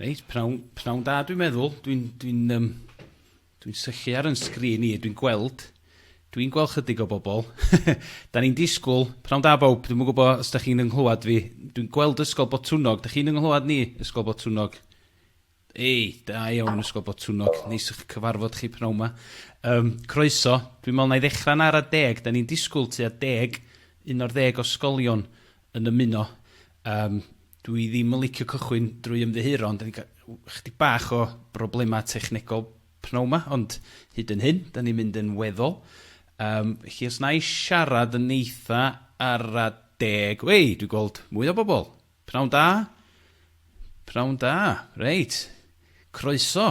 Reit, pnawn, pnawn da dwi'n meddwl. Dwi'n dwi um, dwi syllu ar yn sgrin i, dwi'n gweld, dwi'n gweld chydig o bobl. da ni'n disgwyl, pnawn da bawb, dwi'n gwybod os da chi'n ynghlwad fi. Dwi'n gweld Ysgol Botwnog, da chi'n ynghlwad ni, Ysgol Botwnog? Ei, da iawn Ysgol Botwnog, neis eich cyfarfod chi pnawn yma. Um, croeso, dwi'n meddwl na i ddechrau'n ar a deg, da ni'n disgwyl tu a deg, un o'r ddeg o sgolion yn ymuno. Yym, dw i ddim yn licio cychwyn drwy ymddiheuro, ond 'dan ni'n cael w- ychydig bach o broblemau technegol p'nawn 'ma, ond hyd yn hyn, 'dan ni'n mynd yn weddol. Yym, felly os wna i siarad yn eitha ara deg... Wei, dwi'n gweld mwy o bobl! P'nawn da! P'nawn da! Reit, croeso!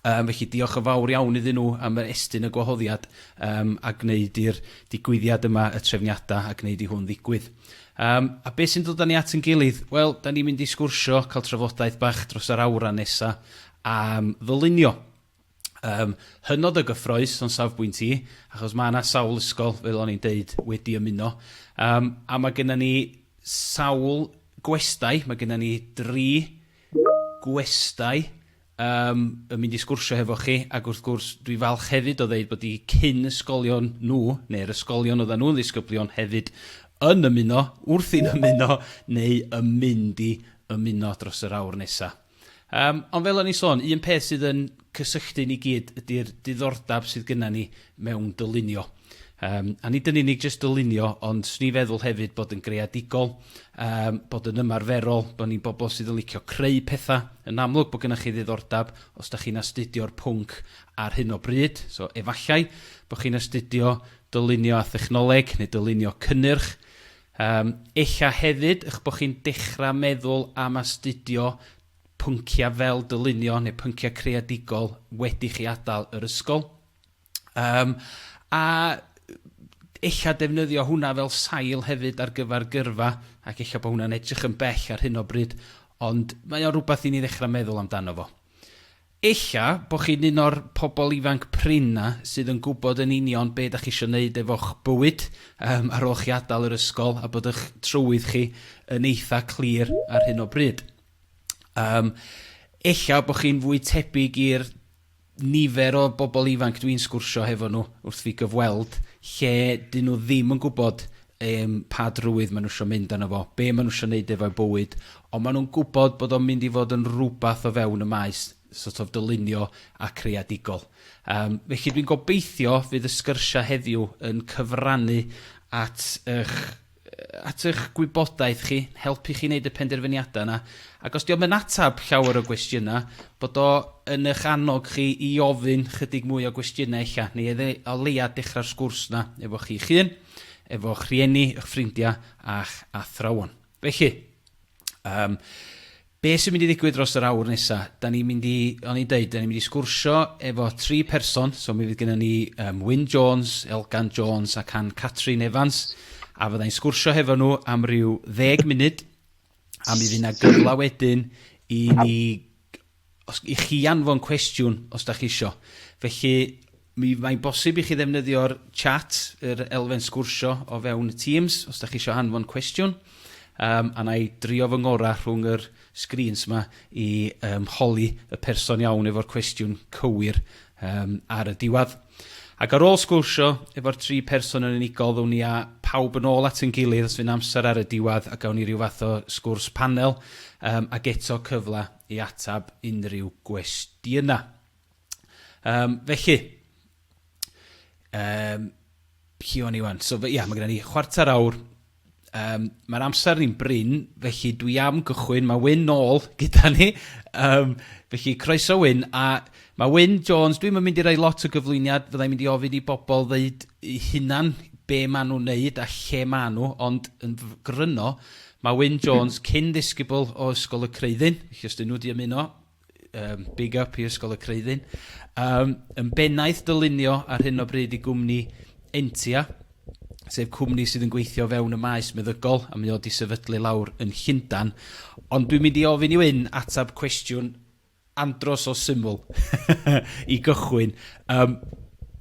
Yym, felly diolch yn fawr iawn iddyn nhw am yr estyn y gwahoddiad um, a gwneud i'r digwyddiad yma y trefniadau a gwneud i hwn ddigwydd. Um, a beth sy'n dod â ni at yn gilydd? Wel, da ni'n mynd i sgwrsio, cael trafodaeth bach dros yr awran nesa am ddylunio. Um, hynod o gyffroes o'n safbwynt i, achos mae yna sawl ysgol, fel o'n i'n deud, wedi ymuno. Um, a mae gennym ni sawl gwestai, mae gennym ni dri gwestai yym yn mynd i sgwrsio hefo chi ac wrth gwrs dwi falch hefyd o ddeud bod 'u cyn ysgolion nhw neu'r ysgolion oeddan nhw'n ddisgyblion hefyd yn ymuno, wrthi'n ymuno neu yn mynd i ymuno dros yr awr nesa. Yym ond fel o'n i'n sôn, un peth sydd yn cysylltu ni gyd ydi'r diddordab sydd gynna ni mewn dylunio. Yym, a nid yn unig jyst dylunio, ond 'swn i'n feddwl hefyd bod yn greadigol, yym, bod yn ymarferol, bod ni'n bobl sydd yn licio creu pethau. Yn amlwg bod gennych chi ddiddordeb os da chi'n astudio'r pwnc ar hyn o bryd, so efallai bod chi'n astudio dylunio a thechnoleg neu dylunio cynnyrch. Yym, ella hefyd eich bod chi'n dechrau meddwl am astudio pynciau fel dylunio neu pynciau creadigol wedi chi adael yr ysgol. Yym, a ella defnyddio hwnna fel sail hefyd ar gyfer gyrfa, ac ella bod hwnna'n edrych yn bell ar hyn o bryd, ond mae o'n rhywbeth i ni ddechrau meddwl amdano fo. Ella bod chi'n un o'r pobl ifanc prin 'na sydd yn gwybod yn union be' 'dach chi eisiau neud efo'ch bywyd um, ar ôl chi adael yr ysgol, a bod eich trywydd chi yn eitha clir ar hyn o bryd. Um, ella bod chi'n fwy tebyg i'r nifer o bobl ifanc dwi'n sgwrsio hefo nhw wrth fi gyfweld lle dyn nhw ddim yn gwybod um, pa drwydd maen nhw eisiau mynd arno fo, be maen nhw eisiau gwneud efo'u bywyd, ond maen nhw'n gwybod bod o'n mynd i fod yn rhywbeth o fewn y maes sort of dylunio a creadigol. Um, felly dwi'n gobeithio fydd y sgyrsiau heddiw yn cyfrannu at eich at eich gwybodaeth chi, helpu chi wneud y penderfyniadau yna, ac os dio'm yn ateb llawer o gwestiynau, bod o yn eich annog chi i ofyn chydig mwy o gwestiynau ella, neu e- o leia dechrau'r sgwrs yna efo chi'ch hun, efo'ch rhieni, 'ych ffrindiau, a'ch athrawon. Felly, um, Be sy'n mynd i ddigwydd dros yr awr nesa? Da ni'n mynd i, o'n i'n deud, da ni'n mynd i sgwrsio efo tri person, so mi fydd gennym ni um, Wyn Jones, Elgan Jones ac Ann Catrin Evans, a fydda i'n sgwrsio hefo nhw am ryw ddeg munud, a mi fydd yna gyfle wedyn i ni os, i chi anfon cwestiwn os da chi isio. Felly, Mi, mae'n bosib i chi ddefnyddio'r chat, yr elfen sgwrsio o fewn y Teams, os da chi isio anfon cwestiwn. Um, a na i drio fy ngorau rhwng yr sgrîns yma i um, holi y person iawn efo'r cwestiwn cywir um, ar y diwedd. Ac ar ôl sgwrsio efo'r tri person yn unigol, ddwn ni a pawb yn ôl at yn gilydd os fy'n amser ar y diwedd a gawn ni rhyw fath o sgwrs panel um, ac eto cyfle i atab unrhyw gwestiynau. Um, felly, um, lle o'n i wan? So, ia, mae gen ni chwarter awr. Um, Mae'r amser ni'n brin, felly dwi am gychwyn. Mae Wyn nôl gyda ni. Um, felly, croeso Wyn. A mae Wyn Jones, dwi'n mynd i roi lot o gyflwyniad. Fyddai'n mynd i ofyn i bobl ddeud hunan be maen nhw'n neud a lle maen nhw, ond yn gryno, mae Wyn Jones cyn ddisgybl o Ysgol y Creuddyn, felly os dyn nhw wedi ymuno, Yym, big up i Ysgol y Creuddyn. Yym, yn bennaeth dylunio ar hyn o bryd i gwmni Entia, sef cwmni sydd yn gweithio o fewn y maes meddygol, a mae o 'di sefydlu lawr yn Llundan. Ond dwi'n mynd i ofyn i Wyn atab cwestiwn andros o syml i gychwyn. Um,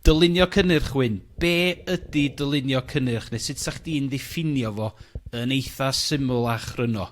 dylunio cynnyrch, Wyn. Be ydy dylunio cynnyrch, neu sut sa chdi'n ddiffinio fo yn eitha syml a chryno?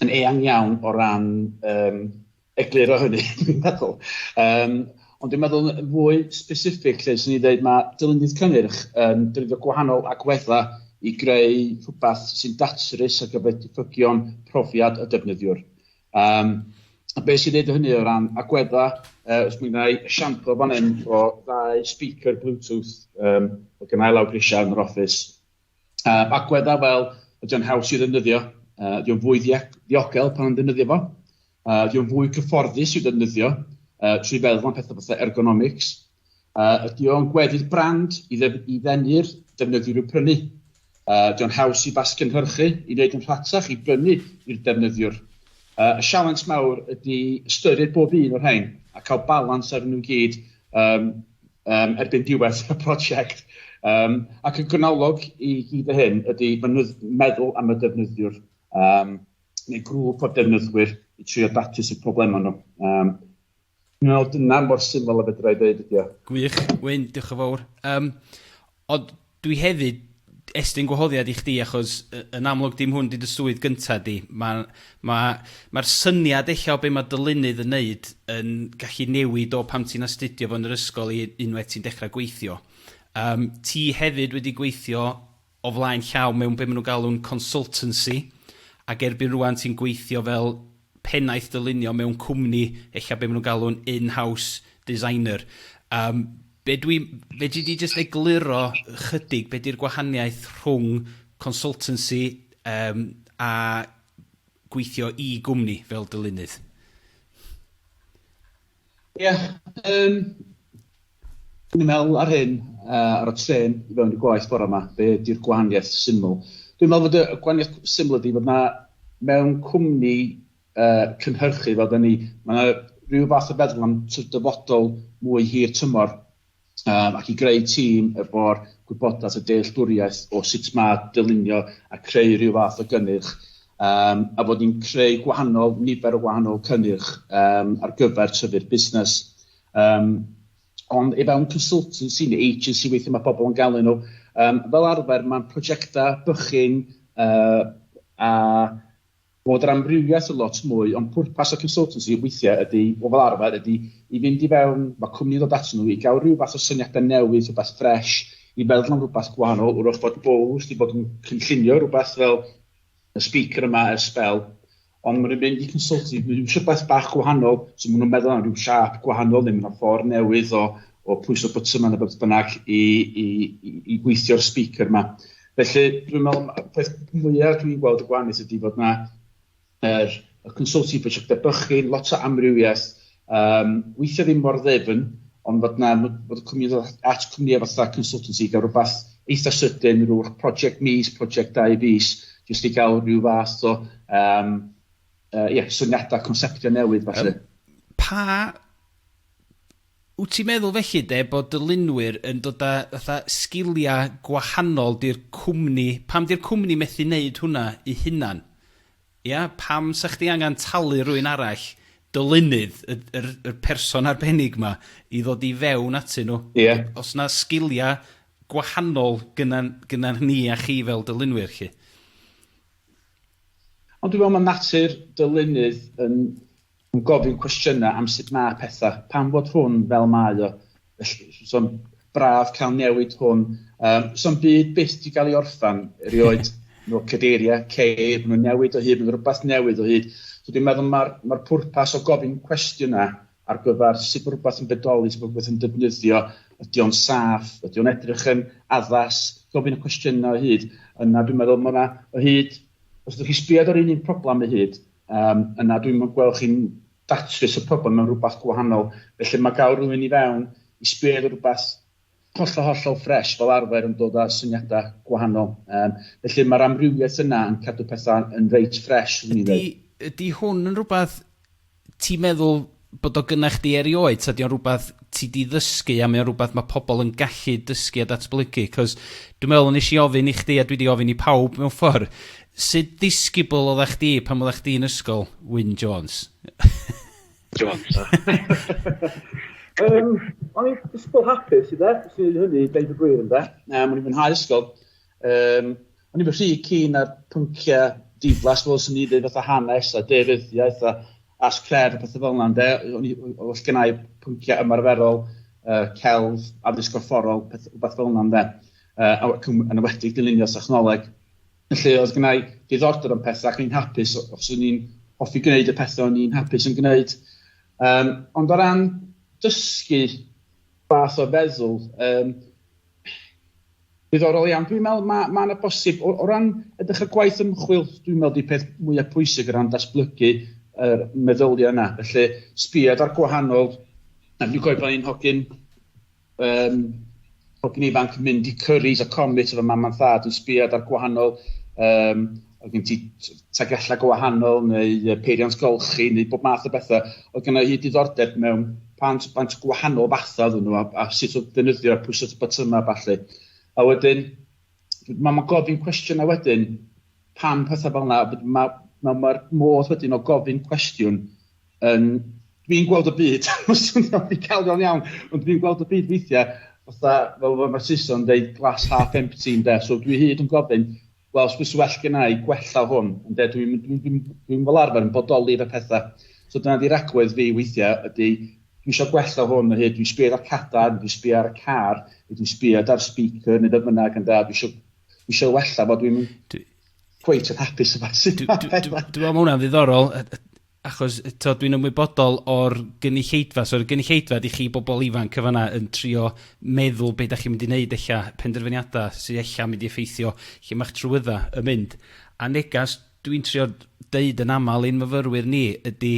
yn eang iawn o ran um, egluro hynny, dwi'n meddwl. Um, ond dwi'n meddwl yn fwy specific lle sy'n ni dweud mae dylunydd cynnyrch yn um, defnyddio gwahanol agweddau i greu rhywbeth sy'n datrys ar gyfer diffygion profiad y defnyddiwr. Um, a beth sy'n neud hynny o ran agweddau, uh, os mi wna i esiampl fan hyn o ddau speaker Bluetooth um, o gynnau lawr grisiau yn yr office, Um, agweddau fel, ydy o'n haws i ddefnyddio, uh, ydy o'n fwy ddiogel pan yn ddefnyddio fo, uh, ydy o'n fwy cyfforddus i ddefnyddio, uh, trwy feddwl am pethau fatha ergonomics, uh, ydy o'n gweddi'r brand i, ddef i ddenu'r defnyddiwr i'w prynu, uh, ydy o'n haws i fasgynhyrchu, i wneud yn rhatach, i brynu i'r defnyddiwr. Uh, y sialens mawr ydy ystyried bob un o'r rhain a cael balans ar nhw gyd um, um, erbyn diwedd y prosiect. Um, ac y gwnalog i gyd y hyn ydy meddwl am y defnyddiwr um, neu grŵp o defnyddwyr i trio datrys y problemau nhw. Um, Dwi'n meddwl dyna mor syml a fedra i ddweud ydy o. Gwych, Wyn, diolch yn fawr. Um, Ond dwi hefyd, estyn gwahoddiad i chdi achos y- yn amlwg dim hwn 'di dy swydd gynta di. Ma' ma' ma'r syniad ella o be' ma' dylunydd yn neud yn gallu newid o pan ti'n astudio fo yn yr ysgol i unwaith ti'n dechra gweithio. Yym ti hefyd wedi gweithio o flaen llaw mewn be' ma' nw'n galw'n consultancy ac erbyn rŵan ti'n gweithio fel pennaeth dylunio mewn cwmni, ella be maen nhw'n galw'n in-house designer. Yym, be dwi... fedri di jyst egluro ychydig be di'r gwahaniaeth rhwng consultancy yym a gweithio i gwmni fel dylunydd? Ie, yym, dwi'n meddwl ar hyn, uh, ar y tren i fewn i gwaith bore yma, be ydy'r gwahaniaeth syml? Dwi'n meddwl bod y gwahaniaeth syml ydy bod na mewn cwmni uh, cynhyrchu fel da ni, mae yna rhyw fath o feddwl am dyfodol mwy hir tymor um, ac i greu tîm efo'r gwybodaeth a dealltwriaeth o sut mae dylunio a creu rhyw fath o gynnyrch, um, a fod ni'n creu gwahanol nifer o wahanol cynnyrch um, ar gyfer tyfu'r busnes. Um, ond efo un consultancy neu agency weithio mae pobl yn galw nhw, um, fel arfer mae'n prosiectau bychyn uh, a Bod yr amrywiaeth yn lot mwy, ond pwrpas y consultancy weithiau ydy, o fel arfer, ydy i fynd i fewn, mae cwmni'n dod atyn nhw i gael rhyw fath o syniadau newydd, rhywbeth ffresh, i feddwl am rhywbeth gwahanol, wrach bod Bowles wedi bod yn cynllunio rhywbeth fel y speaker yma ers sbel, ond maen nhw'n mynd i consultancy, maen nhw'n eisiau beth bach gwahanol, so maen nhw'n meddwl am rhyw siap gwahanol neu maen nhw'n ffordd newydd o, o pwyso button yma neu beth bynnag i, i, i, i gweithio'r speaker yma. Felly, dwi'n meddwl, y peth mwyaf dwi'n gweld y gwahaneth ydy bod yna yr, y consulting prosiectau bychin, lot o amrywiaeth, um, weithio ddim mor ddefn, ond bod yna, bod y cwmni at cwmnïau fatha consultancy i gael rhywbeth eitha sydyn, rhyw'r prosiect mis, prosiect dau fus, jyst i gael rhyw fath o, um, uh, yeah, syniadau, conceptio newydd, falle. Um, pa Wt ti'n meddwl felly de bod dylunwyr yn dod a fatha sgiliau gwahanol di'r cwmni, pam di'r cwmni methu neud hwnna i hunan? Ia? Pam sa chdi angan talu rywun arall, dylunydd, y yr yr person arbennig ma, i ddod i fewn atyn nhw? Ia. Os na sgiliau gwahanol gynnan gynnan ni a chi fel dylunwyr 'lly. Ond dwi'n meddwl ma' natur dylunydd yn Yn gofyn cwestiynau am sut mae pethau, pam fod hwn fel mae o, felly. So'n braf cael newid hwn. Um, so'n byd byth di gael ei orffan, erioed. no cadeiriau, ceir, maen nhw'n newid o hyd, maen rhywbeth newydd o hyd. So dwi'n meddwl mae'r ma pwrpas o gofyn cwestiynau ar gyfer sut mae rhywbeth yn bedoli, sut mae rhywbeth yn defnyddio, ydy o'n saff, ydy o'n edrych yn addas, gofyn y cwestiynau o hyd. Yna dwi'n meddwl mae yna o hyd, os ydych chi sbiad ar un un problem o hyd, Yym, na, dwi'm yn gweld chi'n datrys y problem mewn rhywbeth gwahanol. Felly mae gael rhywun i fewn i sbio ar rhywbeth hollol, hollol ffresh fel arfer yn dod â syniadau gwahanol. Yym, felly mae'r amrywiaeth yna yn cadw pethau yn reit ffresh, swn i'n dweud. Ydy, ydy hwn yn rhywbeth ti'n meddwl bod o gynnach chdi erioed, ta di o'n rhywbeth ti di ddysgu a mae o'n rhywbeth mae pobl yn gallu dysgu a datblygu? Cos dwi'n meddwl yn eisiau ofyn i chdi a dwi di ofyn i pawb mewn ffordd, sydd disgybl o dda chdi pan oeddech chdi'n ysgol, Wyn Jones? Jones. um, o'n i'n disgybl hapus i dde, sy'n ei hynny, deud y gwir yn dde. Um, o'n i'n fwynhau ysgol. Yym, o'n i'n rhy keen ar pynciau diflas fel sy'n ni dweud fatha hanes a deiryddiaeth a as cref a pethau fel yna, ynde? O'n i, os gen i pynciau ymarferol, uh, celf, addysg gorfforol, peth, rhywbeth fel yna, ynde? Uh, yn ywedig dylunio technoleg. Felly, oedd gen i diddordeb yn pethau ac o'n i'n hapus os o'n i'n hoffi gwneud y pethau o'n i'n hapus yn gwneud. Um, ond o ran dysgu fath o feddwl, um, Diddorol iawn. Dwi'n meddwl mae ma yna bosib, o, o ran edrych ar gwaith ymchwil, dwi'n meddwl di peth mwyaf pwysig o ran datblygu yr meddyliau yna. Felly, sbiad ar gwahanol... Dwi'n cofio pan i'n hogyn um, hogyn ifanc yn mynd i Curry's a Comet efo mam a thad yn sbiad ar gwahanol um, oedd gen ti tagellau go wahanol neu peiriant golchi neu bob math o bethau. Oedd gen i hyd diddordeb mewn pant, pant gwahanol fathau oedden nhw a, a sut oedd defnyddio a pwysau botymau a falle. A wedyn, mae ma gofyn cwestiynau wedyn, pam pethau fel yna, mae'r ma, ma, ma modd wedyn o gofyn cwestiwn yn... Dwi'n gweld y byd, mae'n swnio'n ddigalon iawn, ond dwi'n gweld y byd weithiau, fatha, fel mae Saeson yn dweud, glass half empty yn de, so dwi hyd yn gofyn, Wel, os byse well genna i gwella hwn, ynde, dwi'n, dwi'n, dwi'n, dwi'n fel arfer yn bodoli fe pethau. So dyna di ragwedd fi weithiau, ydy, dwi eisiau gwella hwn o hyd, dwi'n sbio ar y cadar, dwi'n sbio ar y car, dwi'n sbio ar speaker neu beth bynnag, ynde, dwi eisiau, dwi eisiau wella fo, dwi'n cweit yn hapus yma. Dwi'n meddwl mae hwnna'n ddiddorol, achos t'od dwi'n ymwybodol o'r gynulleidfa, so yr gynulleidfa ydi chi bobl ifanc yn fan 'na yn trio meddwl be' 'dach chi'n mynd i neud ella, penderfyniada sy ella'n mynd i effeithio lle ma'ch trwydda yn mynd. A negas dwi'n trio deud yn amal i'n myfyrwyr ni ydi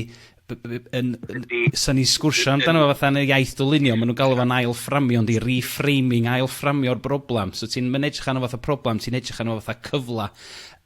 b- b- yn yn sa ni'n sgwrsio amdano fo fatha yn y iaith dylunio ma' nhw'n galw fo'n ail fframio yndi reframing ail fframio'r broblam so ti'n ma'n edrych arno fatha problem ti'n edrych arno fatha cyfla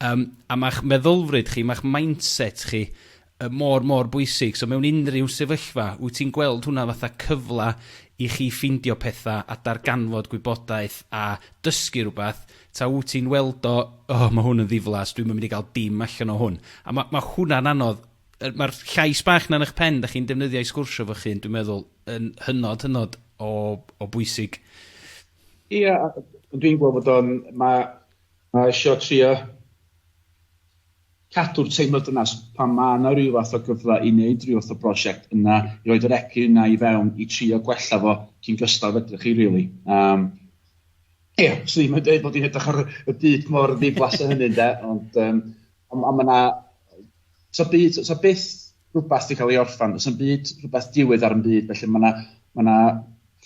Yym, a mae'ch meddylfryd chi, mae'ch mindset chi yy mor, mor bwysig. So mewn unrhyw sefyllfa, wyt ti'n gweld hwnna fatha cyfle i chi ffindio pethau a darganfod gwybodaeth a dysgu rhywbeth, ta wyt ti'n weld o, o, mae hwn yn ddiflas, dwi'm yn mynd i gael dim allan o hwn. A ma' ma' hwnna'n anodd. Yy mae'r llais bach 'na yn eich pen 'dach chi'n defnyddio i sgwrsio efo'ch hun, dwi'n meddwl, yn hynod, hynod o o bwysig. Ia, a dwi'n gweld bod o'n, ma', A isio trio cadw'r teimlad dynas pan mae yna rhyw fath o gyfle i wneud rhyw fath o brosiect yna i roid yr egni yna i fewn i trio gwella fo cyn gystal fedrwch chi rili. Yym ia, swn i'm yn deud bod hi'n edrych ar y byd mor ddiflas a hynny ynde ond yym ond ma' 'na So byd, so, so byth rhywbeth wedi cael ei orffan, so byd rhywbeth diwedd ar yn byd, felly mae yna ma, na,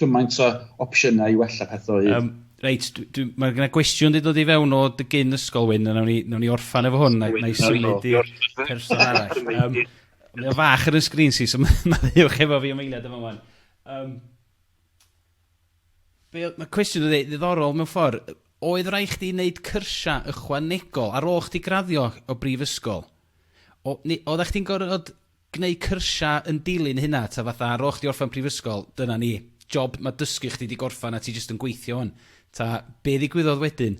cymaint o opsiynau i wella pethau o hyd. Um, reit, mae yna gwestiwn wedi dod i fewn o dy gyn ysgol wyn, a nawn ni, nawn ni orffan efo hwn, na, na i symud i person arall. Um, mae o fach ar y sgrin si, so mae'n ddiwch efo fi am eiliad efo hwn. Um, Be oedd... Mae cwestiwn yn ddiddorol mewn ffordd. Oedd rhaid chdi wneud cyrsiau ychwanegol ar ôl chdi graddio o brifysgol? O, neu oeddech chdi'n gorfod gwneud cyrsiau yn dilyn hynna, ta fatha ar ôl chdi orffen prifysgol, dyna ni, job, mae dysgu chdi wedi gorffen a ti jyst yn gweithio hwn. Ta, be ddigwyddodd wedyn?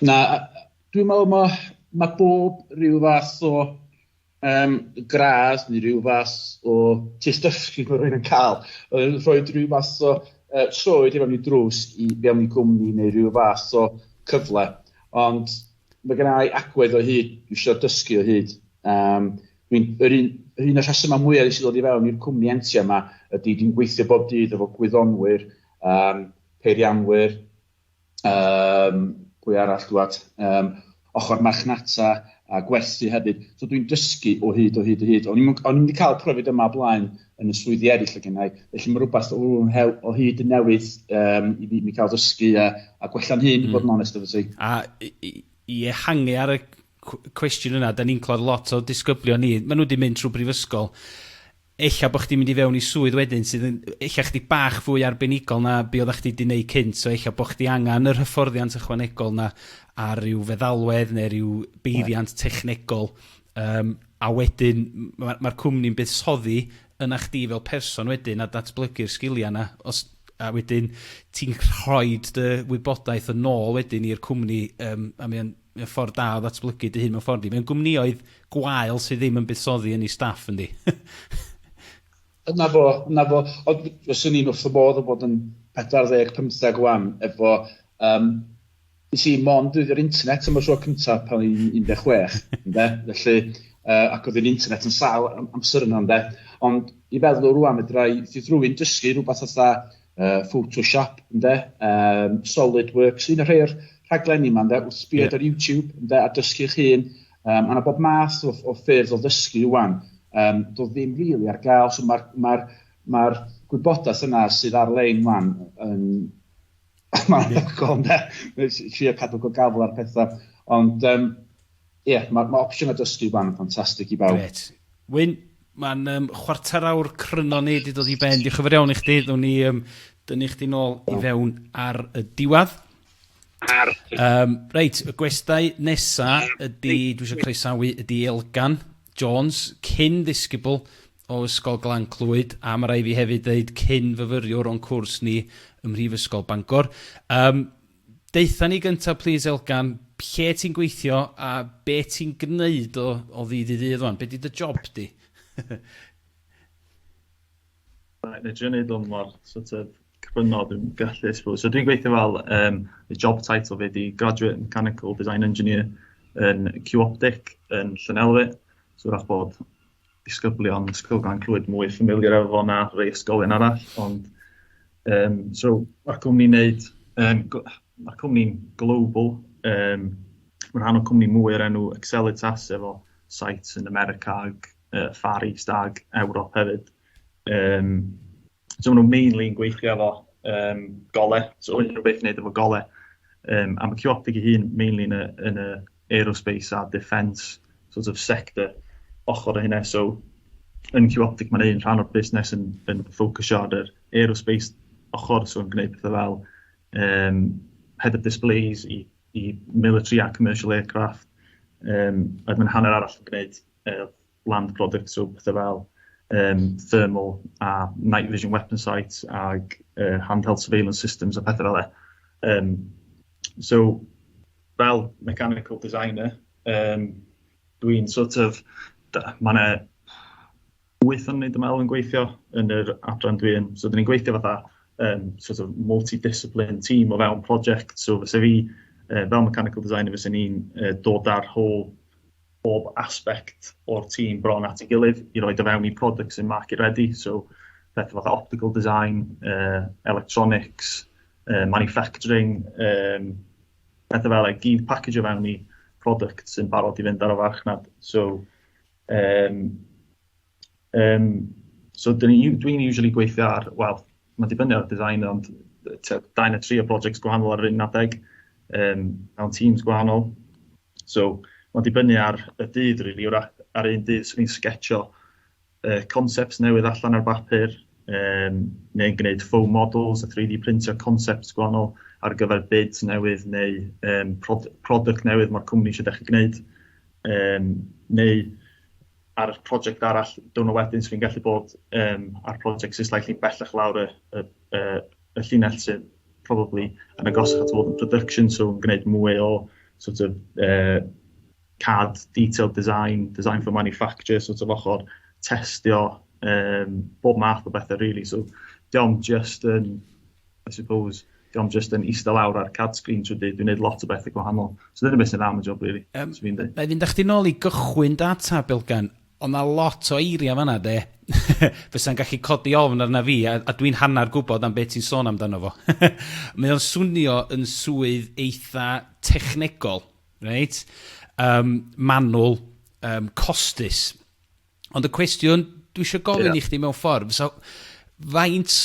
Na, dwi'n meddwl mae, mae bob rhyw fath o um, gradd neu rhyw fath o test dysgu mae rhywun yn cael. Oedd rhoi rhyw fath o uh, troed i fewn i drws i fewn i gwmni neu rhyw fath o cyfle. Ond mae gen i agwedd o hyd, dwi eisiau dysgu o hyd. Um, dwi'n, yr un, yr un o'r rhesymau mwyaf i sydd ddod i fewn i'r cwmni entia yma ydy dwi'n gweithio bob dydd efo gwyddonwyr, um, peirianwyr, Um, pwy arall dwad? Um, ochr marchnata a gwerthu hefyd. So dwi'n dysgu o hyd, o hyd, o hyd. O'n i'n mynd i cael profiad yma blaen yn y swyddi eraill o gennau, felly mae rhywbeth o, o hyd yn newydd um, i mi, mi cael dysgu a, a gwella'n hyn, mm. bod yn onest efo ti. A i ehangu ar y cwestiwn yna, da ni'n clod lot o disgyblion ni, maen nhw wedi mynd trwy brifysgol, ella bo' chdi'n mynd i fewn i swydd wedyn sydd yn ella chydig bach fwy arbenigol na be' oddach chdi 'di neud cynt, so ella bo' chdi angan yr hyfforddiant ychwanegol 'na a ryw feddalwedd ne' ryw beiriant technegol yym a wedyn m- ma' ma'r cwmni'n buddsoddi yna chdi fel person wedyn a datblygu'r sgilia 'na os a wedyn ti'n rhoid dy wybodaeth yn ôl wedyn i'r cwmni yym a mae o'n Mae o'n ffordd da o ddatblygu dy hun mewn ffordd yndi. Mewn gwmnïoedd gwael sydd ddim yn buddsoddi yn ei staff yndi? Dyna fo, dyna fo. Ond fyswn i'n wrth fy modd o fod yn 40, 50 ŵan efo yym nes i mond defnyddio'r internet am y tro cynta pan o'n i'n 16 ynde? Felly yy ac oedd yr internet yn sâl am- amser yna ynde? Ond i feddwl rŵan fedra i fyth rywun dysgu rhywbeth fatha uh, Photoshop, ynde, um, SolidWorks, un o'r rhai o'r rhaglenni yma, ynde, wrth sbio yeah. ar YouTube, ynde, a dysgu'ch hun, um, a na bob math o, o ffyrdd o ddysgu wan, um, do ddim rili really ar gael, so mae'r ma ma, gwybodaeth yna sydd ar-lein wan yn... Mae'n anhygoel, ynde, trio cadw go gafel ar pethau, ond um, Ie, yeah, mae ma opsiynau dysgu fan yn ffantastig i bawb. Gret. Wyn, mae'n um, chwarter awr cryno ni wedi dod i ben. Diolch yn fawr iawn i chdi. Ddwn ni um, dynnu chdi nôl i fewn ar y diwedd. Ar. Um, reit, y gwestai nesa ydy, dwi eisiau croesawu, ydy Elgan Jones, cyn ddisgybl o Ysgol Glan Clwyd, a mae rai fi hefyd dweud cyn fyfyriwr o'n cwrs ni ym Mhrifysgol Bangor. Um, Deutha ni gynta plîs Elgan, lle ti'n gweithio a be ti'n gwneud o o ddydd i ddydd ŵan? Be 'di dy job di? Reit, na i drio neud hwn mor sort of cryno dwi'n gallu I suppose. So dwi'n gweithio fel um, y job title fi di Graduate Mechanical Design Engineer yn Q-Optic yn Llanelwy. So wrach bod disgyblion Ysgol Glan Clwyd mwy ffamiliar efo fo na rei ysgolion arall, ond um, so mae'r cwmni'n neud, um, mae'r cwmni'n global, um, mae'n rhan o cwmni mwy o'r enw Accelitas efo sites yn America ag uh, Far East ag Ewrop hefyd. Um, So maen nhw mainly yn gweithio efo um, gole, so unrhyw beth wneud efo gole. Um, a mae Ciotic ei hun mainly yn y, yn y aerospace a defence sort of sector ochr o hynna. So yn Ciotic mae'n un rhan o'r busnes yn, yn ffocysio ar yr aerospace ochr, so yn gwneud pethau fel um, head of displays i, i military a commercial aircraft. Um, a mae'n hanner arall yn gwneud uh, land product, so pethe fel yym thermal a night vision weapon sights ag uh, handheld surveillance systems a pethe fel e. Um, so, fel mechanical designer, um, dwi'n sort of, mae yna wyth o'n wneud ymwneud yn gweithio yn yr adran dwi yn. So, dyn ni'n gweithio fatha um, sort of multidiscipline team o fewn project. So, fysa fi, uh, fel mechanical designer, fysa ni'n uh, dod ar whole bob aspect o'r tîm bron at ei gilydd i roid o fewn i product sy'n market ready. So, pethau fatha optical design, uh, electronics, uh, manufacturing, um, pethau fel ei gyd package o fewn i product sy'n barod i fynd ar y farchnad. So, um, um, so dwi'n dwi usually gweithio ar, wel, mae'n dibynnu ar y design, ond da yn y tri o projects gwahanol ar yr un adeg, um, mewn teams gwahanol. So ma'n dibynnu ar y dydd rili yr a- a'r un dydd swn i'n sgetsio yy concepts newydd allan ar bapur yym neu'n gneud foam models a 3D printio concepts gwahanol ar gyfer bids newydd neu yym prod- product newydd ma'r cwmni isio dechre gneud yym neu ar y project arall diwrnod wedyn swn i'n gallu bod yym ar project sy slightly bellach lawr y y y y llinell sydd probably yn agosach at fod yn production, so yn gwneud mwy o sort of uh, CAD, detailed design, design for manufacture, sort of ochr testio, um, bob math o bethau really. So diolch just yn, I suppose, diolch just yn eistedd lawr ar CAD screen trwy dyd, dwi'n gwneud lot o bethau gwahanol. So dyna beth sy'n am y job really. Um, so fi'n dweud. Fe fynd â chdi nôl i gychwyn data, Bilgan, Odd 'na lot o eiria' fan 'na 'de fysa'n gallu codi ofn arna fi a a dwi'n hannar gwbod am be' ti'n sôn amdano fo. Mae o'n swnio yn swydd eitha technegol, reit? Yym manwl, yym costus. Ond y cwestiwn dwi isio gofyn... Ia. ...i chdi mewn ffordd fysa faint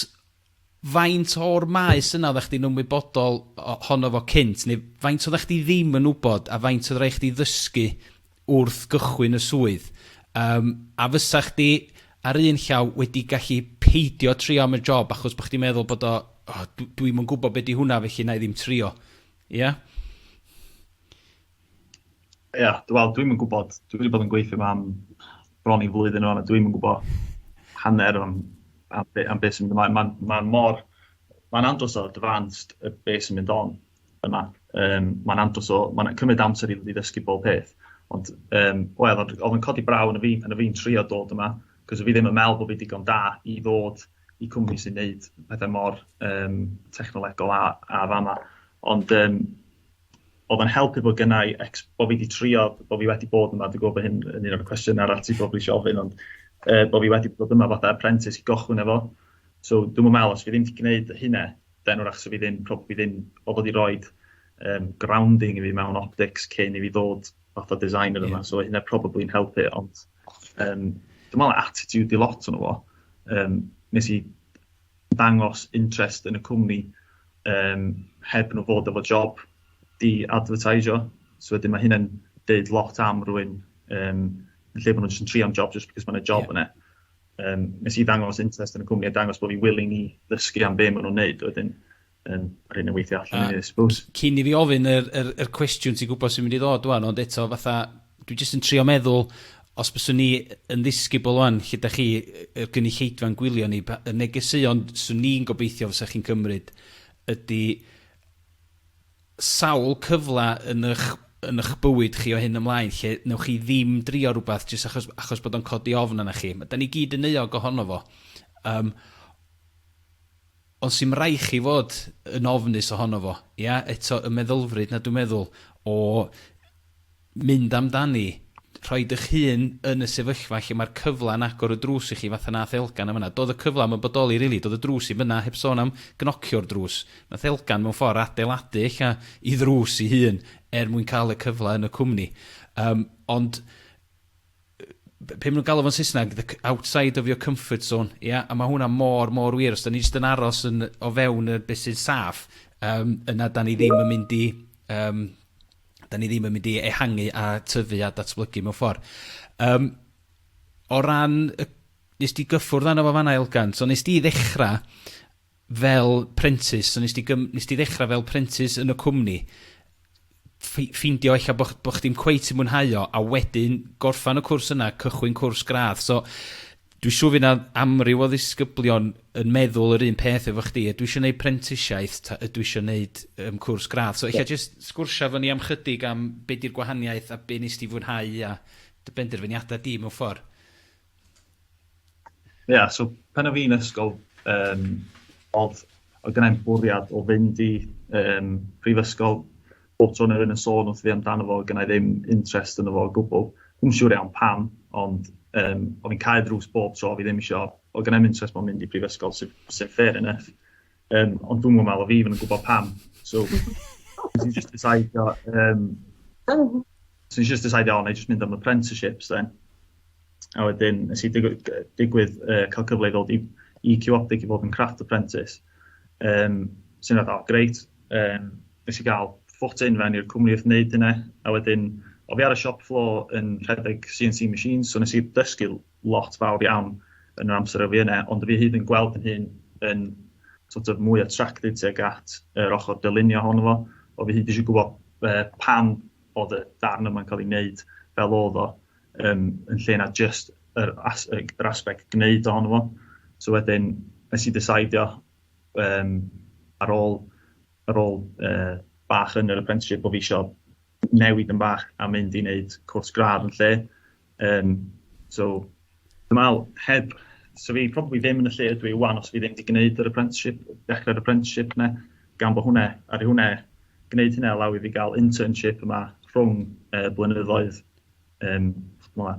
Faint o'r maes yna oeddach chdi'n ymwybodol ohono fo cynt, neu faint oeddach chdi ddim yn wybod, a faint oedd rhaid chdi ddysgu wrth gychwyn y swydd? Yym, a fysa chdi, ar un llaw, wedi gallu peidio trio am y job achos bod chdi'n meddwl bod o, oh, dwi, dwi'm yn gwybod be di hwnna felly na i ddim trio. Ia? Ia, yeah, wel, dwi'm yn gwybod. Dwi wedi bod yn gweithio yma am bron i flwyddyn o'n, a dwi'm yn gwybod hanner am, am, be, am beth sy'n mynd ymlaen. Mae'n ma mor... Mae'n andros o advanced y beth sy'n mynd on yma. Um, mae'n andros o... Mae'n cymryd amser i ddysgu bob peth. Ond, um, wel, oedd yn codi braw yn y fi, yn y fi'n trio dod yma, cos fi ddim yn meddwl bod fi digon da i ddod i cwmni sy'n neud pethau mor um, technolegol a, a fama. Ond, um, O'dd o'n helpu bod gynna i ex- bo' fi 'di trio, bo' fi wedi bod yma, dwi gwbo bo hyn yn un o'r cwestiyna arall ti probably isio ofyn ond yy bo' fi wedi bod yma fatha apprentice i gochwyn efo so dwi'm yn me'wl os fi ddim 'di gneud y hynne then 'w'rach sa fi ddim probably ddim o fod i roid yym grounding i fi mewn optics cyn i fi ddod fatha designer yma so o' hynne probably'n helpu ond yym dwi me'wl attitude 'di lot ono fo yym nes i dangos interest yn y cwmni yym heb nhw fod efo job i adfyrtaisio. So wedyn ma' hynna'n deud lot am rywun yym yn lle bo' nhw'n jyst yn trio am job jyst because ma' 'na job yeah. yna. Um, nes i ddangos interest yn y cwmni a dangos bod fi willing i ddysgu am be' ma' nhw'n neud wedyn yn yr hyn yn weithio allan i ni, I suppose. Cyn i fi ofyn yr, yr, yr cwestiwn ti'n gwybod sy'n mynd i ddod wan, ond eto fatha, dwi jyst yn trio meddwl, os byswn ni yn ddisgybl wan, lle da chi, y gynulleidfa'n gwylio ni, y negeseuon swn ni'n gobeithio fysa chi'n cymryd ydy sawl cyfle yn eich, yn eich bywyd chi o hyn ymlaen lle newch chi ddim drio rhywbeth jyst achos, achos bod o'n codi ofn yna chi. Da ni gyd yn euog ohono fo. Um, Ond sy'm rai chi fod yn ofnus ohono fo, ia? Eto y meddylfryd 'na dwi'n meddwl o mynd amdani, rhoi dych hun yn y sefyllfa lle mae'r cyfla'n agor y drws i chi fatha nath Elgan yn fan'na. Do'dd y cyfla 'im yn bodoli rili, do'dd y drws 'im yna, heb sôn am gnocio'r drws. Nath Elgan mewn ffor adeiladu ella 'i ddrws 'i hun er mwyn ca'l y cyfla yn y cwmni. Yym ond be ma' nw'n galw fo'n Saesneg the c- outside of your comfort zone ia a ma' hwnna mor mor wir os 'dan ni jyst yn aros yn o fewn y be' sy'n saff yym yna 'dan ni ddim yn mynd i yym 'dan ni ddim yn mynd i ehangu a tyfu a datblygu mewn ffor. Yym o ran y... Nes di gyffwrdd arno fo fan 'na Elgan so nes di ddechra fel prentis, so nes di gym- nes di ddechra fel prentis yn y cwmni, ffi- ffeindio ella bo' ch- bo' chdi'm cweit yn mwynhau o, a wedyn gorffan y cwrs yna, cychwyn cwrs gradd. So dwi siŵr fy' 'na amryw o ddisgyblion yn meddwl yr un peth efo chdi, ydw i isio neud prentisiaeth ta ydw i isio neud yym cwrs gradd? So ella yeah. jyst sgwrsio efo ni am chydig am be' 'di'r gwahaniaeth a be' nes di fwynhau a dy benderfyniada di mewn ffordd. Ie, yeah, so pan o fi'n ysgol, um, oedd, oedd gennau'n bwriad o fynd i um, prifysgol bob tro neu yn y sôn wrth fi amdano fo, gynnau ddim interest yn fo o gwbl. Dwi'n siŵr iawn pam, ond um, oedd fi'n cael drws bob tro, fi ddim eisiau, oedd gynnau'n interest mewn mynd i prifysgol sy'n sy fair enough. Yym ond dwi'm yn meddwl fi ddim yn gwybod pam. So nes i jyst decidio yym nes i jyst decidio o 'na i jyst mynd am apprenticeships then. A wedyn nes i digwydd yy digwydd yy ca'l cyfle i ddod i i Q Optic i fod yn craft apprentice yym sy'n fath o grêt yym nes i ga'l foot in fewn i'r cwmni wrth neud hynna a wedyn o' fi ar y shop floor yn rhedeg See Eye See machines so nes i dysgu lot fawr iawn yn yr amser a fi yna, ond fi hyd yn gweld fy hun yn sort of mwy attracted tuag at yr ochr dylunio ohono fo, o fi hyd eisiau gwybod uh, pam oedd y darn yma'n cael ei wneud fel oedd o, um, yn lle na just yr, as, yr aspect gwneud ohono fo. So wedyn, nes i ddesaidio um, ar ôl, ar ôl uh, bach yn yr apprenticeship bod fi eisiau newid yn bach a mynd i wneud cwrs gradd yn lle, Yym so dwi me'wl heb so fi probably ddim yn y lle ydw i ŵan os fi ddim 'di gneud yr apprenticeship dechre'r apprenticeship 'ne gan bo' hwnne aru hwnne gneud hynna allow i fi ga'l internship yma rhwng yy blynyddoedd yym ch'mo'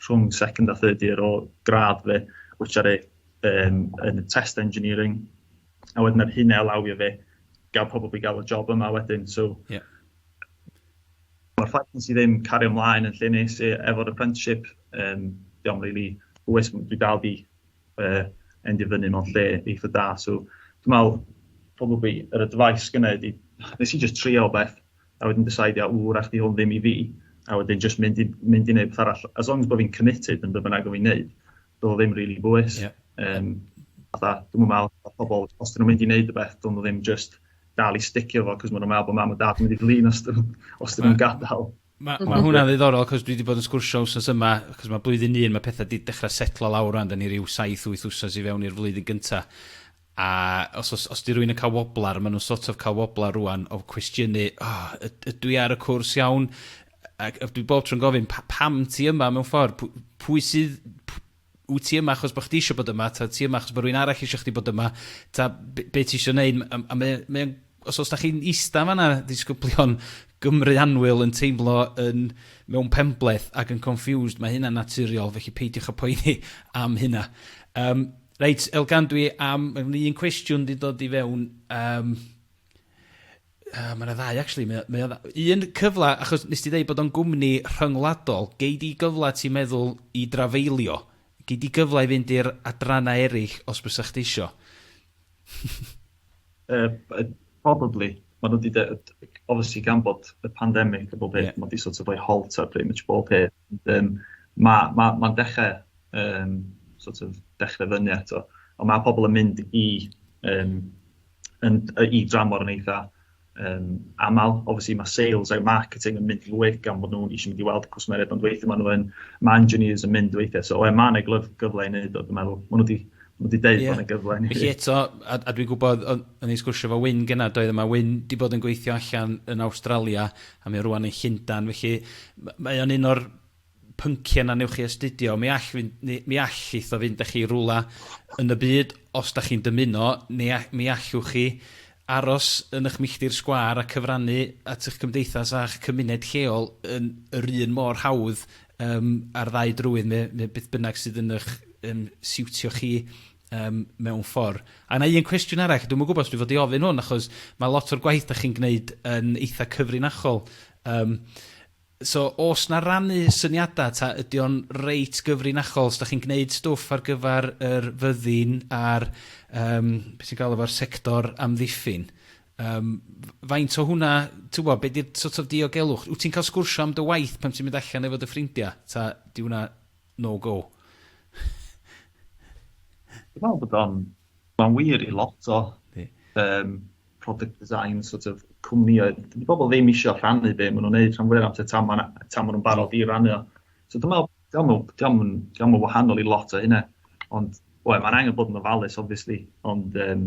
rhwng second a third year o gradd fi which aru yym yn y test engineering a wedyn aru hynna allowio fi ga'l probably ga'l y job yma wedyn so... Ie. Mae'r ffaith nes i ddim cario mlaen yn lle nes i efo'r apprenticeship, um, diolch really hwys, dwi dal di uh, endio fyny mewn lle eitha da, so dwi'n meddwl, probably, yr advice gynnau ydi, nes i just trio beth, a wedyn decide, a wr, ach di hwn ddim i fi, a wedyn just mynd i, mynd i wneud beth arall, as long as bod fi'n committed yn beth bynnag o fi'n neud, do'dd o ddim rili bwys. Ie. Yym fatha dwi'm yn me'wl bo' pobol os 'dyn nw'n mynd i neud rwbeth dylwn nw ddim jyst dal i sticio fo 'c'os ma' nw'n me'wl bo' mam a dad yn mynd i flin os 'dyn nw'n os 'dyn nw'n gadal. Ma' ma' hwnna'n ddiddorol 'c'os dwi 'di bod yn sgwrsio wsos yma 'c'os ma' blwyddyn un ma' petha 'di dechra setlo lawr rŵan 'dan ni ryw saith wyth wsos i fewn i'r flwyddyn gynta A os os os 'di rywun yn cael woblar, ma' nhw'n sort of cael woblar rŵan o cwestiynu, O, yd- ydw i ar y cwrs iawn? A- ac dwi bob tro'n gofyn, Pa- pam ti yma mewn ffordd? Pw- pwy sydd... p- Wyt ti yma achos bod chdi eisiau bod yma, ta wyt ti yma achos bod rhywun arall eisiau chdi bod yma, ta be' be' ti eisiau wneud? M- a a mae o mae o'n Os os da chi'n ista fanna disgyblion Gymru anwyl yn teimlo yn mewn penbleth ac yn confused, mae hynna'n naturiol, felly peidiwch â poeni am hynna. Um, reit, Elgan, dwi am... Mae yna un cwestiwn wedi dod i fewn. Um, uh, mae yna ddau, actually. Mae, mae yna un cyfle, achos nes ti ddeud bod o'n gwmni rhyngwladol, gei di gyfle ti'n meddwl i drafeilio? Gei di gyfle i fynd i'r adrannau eraill os bys eich ti isio? Yy probably ma' nhw wedi de- obviously gan bod y pandemic a bob peth... Ie. ...ma' 'di sort of rhoi halt ar pretty much bob peth ond yym ma' ma' ma'n dechre yym sort of dechre fyny eto ond ma' pobol yn mynd i yym yn yy i dramor yn eitha um, aml. Obviously mae sales a marketing yn mynd lwyth gan bod nhw'n eisiau mynd i weld cwsmeriaid, ond weithio maen nhw'n, mae engineers yn mynd weithiau. So, mae yna gyfle i wneud o, dwi'n meddwl. Maen nhw wedi Mae wedi deud yeah. bod yna gyfle. Felly eto, a, a dwi'n gwybod, o'n i'n sgwrsio fo Wyn gyna, doedd yma Wyn di bod yn gweithio allan yn Australia, a mae rwan yn Llundan, felly mae o'n un o'r pynciau na newch chi astudio, mi all fynd, ni, mi all eitho fynd â chi rwla yn y byd os da chi'n dymuno, ni, mi allwch chi aros yn eich milltir sgwâr a cyfrannu at eich cymdeithas a'ch cymuned lleol yn yr un mor hawdd um, ar ddau drywydd, me, me beth bynnag sydd yn eich um, siwtio chi um, mewn ffordd. A yna un cwestiwn arall, dwi'n gwybod os dwi'n fod i ofyn hwn, achos mae lot o'r gwaith da chi'n gwneud yn eitha cyfrinachol. Um, So o's 'na rannu syniada ta ydi o'n reit gyfrinachol? Os 'dach chi'n gneud stwff ar gyfar yr fyddin a'r yym be' ti'n galw fo'r sector amddiffyn yym f- faint o hwnna t'wbo' be' 'di'r sort of diogelwch? Wt ti'n ca'l sgwrsio am dy waith pan ti'n mynd allan efo dy ffrindia ta 'di wnna no go? Dwi me'wl bod o'n ma'n wir i lot o... Yndi. ...yym product design sort of cwmnïau, dydy pobl ddim eisiau rhannu be maen nhw'n neud rhan fwyaf amser tan maen nhw'n barod i rannu o. So dwi'n meddwl, diolch yn wahanol i lot o hynna, ond we, mae'n angen bod yn ofalus, obviously, ond um,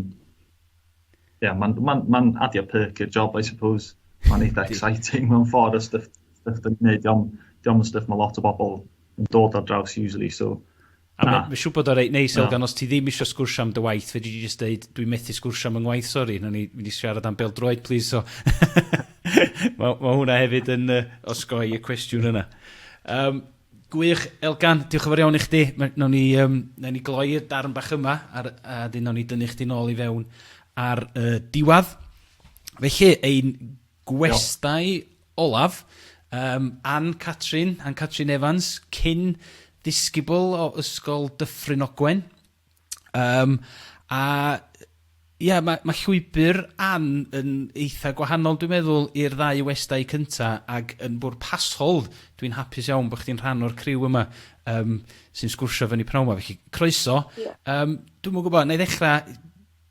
yeah, mae'n ma ma adio perk i'r job, I suppose. Mae'n eitha exciting mewn ffordd o stuff, stuff dwi'n gwneud, diolch yn stuff mae lot o bobl yn dod ar draws usually, so A mae ma siŵr bod o'n reit neis, Elgan, os ti ddim eisiau sgwrsio am dy waith, fe dwi'n just dweud, dwi'n methu sgwrsio am yng ngwaith, sori, na ni mynd i siarad am beldroed, please, so... mae, ma hwnna hefyd yn uh, osgoi y cwestiwn yna. Um, gwych, Elgan, diolch yn fawr iawn i chdi. Nawn ni, um, nawn ni gloi'r darn bach yma, ar, a dyn nawn ni dynnu chdi nôl i fewn ar uh, diwad. Felly, ein gwestai Olaf, Yym, Ann-Catrin, Ann-Catrin Evans, cyn ddisgybl o Ysgol Dyffryn Ogwen. Yym, a ia, ma' ma' llwybr Ann yn eitha gwahanol dwi'n meddwl i'r ddau westai cynta, ag yn bwrpasol, dwi'n hapus iawn bo' chdi'n rhan o'r criw yma yym sy'n sgwrsio fyny pnawn 'ma, felly croeso. Diolch. Yym, dwi'm yn gwbo, 'na i ddechra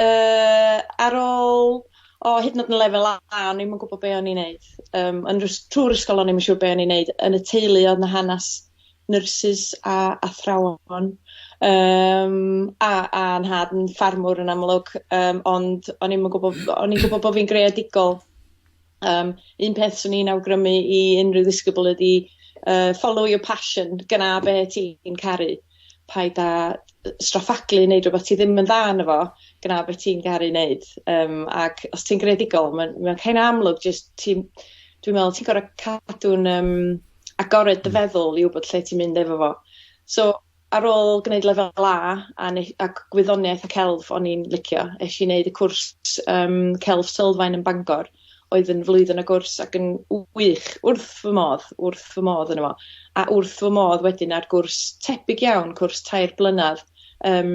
Yy ar ôl o hyd yn o'd yn lefel A o'n i'm yn gwbo be' o'n i'n neud yym yn yr ys- trw'r ysgol o'n i'm yn siŵr be' o'n i'n neud yn y teulu o'dd 'na hanas nyrsys a athrawon yym a a nhad yn ffarmwr yn amlwg yym ond o'n i'm yn gwbo o'n i'n gwbo bo' fi'n greadigol. Yym un peth swn i'n awgrymu i unrhyw ddisgybl ydi yy follow your passion gna be' ti'n caru. Paid â yy straffaglu neud rwbath ti ddim yn dda yno fo gna be' ti'n garu neud yym ac os ti'n greadigol ma'n ma'n kind of amlwg jyst ti'n dwi'n me'wl ti gor'o' cadw'n yym agored dy feddwl i wbod lle ti'n mynd efo fo. So Ar ôl gwneud lefel A a ne- a gwyddoniaeth a celf o'n i'n licio, esh i neud y cwrs yym celf sylfaen yn Bangor oedd yn flwyddyn o gwrs ac yn w- wych, wrth fy modd, wrth fy modd yno fo. A wrth fy modd wedyn ar gwrs tebyg iawn, cwrs tair blynadd yym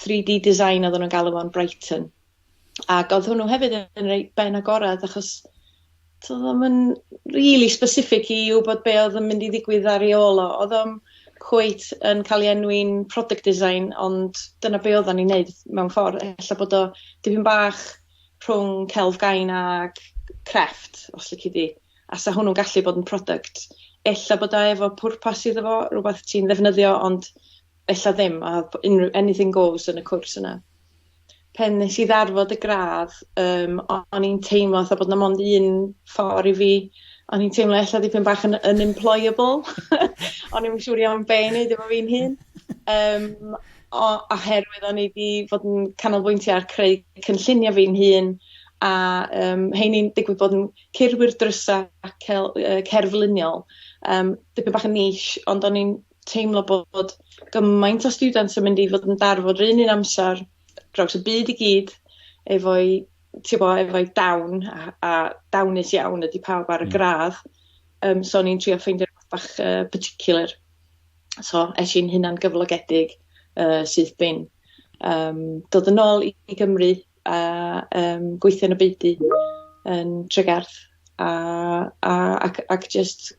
3D design oddan nw'n galw fo'n Brighton. Ac oedd hwnnw hefyd yn reit ben agored achos to ddim yn really specific i wybod be oedd yn mynd i ddigwydd ar ei ôl o. Oedd o'n cweit yn cael ei enwi'n product design ond dyna be oedden ni'n neud mewn ffordd. Ella bod o dipyn bach rhwng celf gain a crefft os lici di. A sa hwnnw'n gallu bod yn product. Ella bod o efo pwrpas iddo fo, rhywbeth ti'n ddefnyddio ond ella ddim a unrhyw anything goes yn y cwrs yna. pen nes i ddarfod y gradd yym o- o'n i'n teimlo fatha bod 'na mond un ffor i fi o'n i'n teimlo ella dipyn bach yn unemployable o'n i'm yn siŵr iawn be' i neud efo fi'n hun. Yym o- oherwydd o'n i 'di fod yn canolbwyntio ar creu cynllunio fi'n hun a yym 'heini'n digwydd bod yn ceirwyr drysa ac cel- yy cerfluniol yym dipyn bach yn niche ond o'n i'n teimlo bod gymaint o students yn mynd i fod yn darfod yr un un amser draws y byd i gyd efo'i ti'n gwybod, efo'i dawn a, a dawnus iawn ydy pawb ar y hmm. gradd. Um, so ni'n trio ffeindio rhywbeth bach uh, particular. So es i'n hunan gyflogedig uh, sydd bin um, dod yn ôl i, i Gymru a yym gweithio yn y beudy yn Tregarth a a ac ac jyst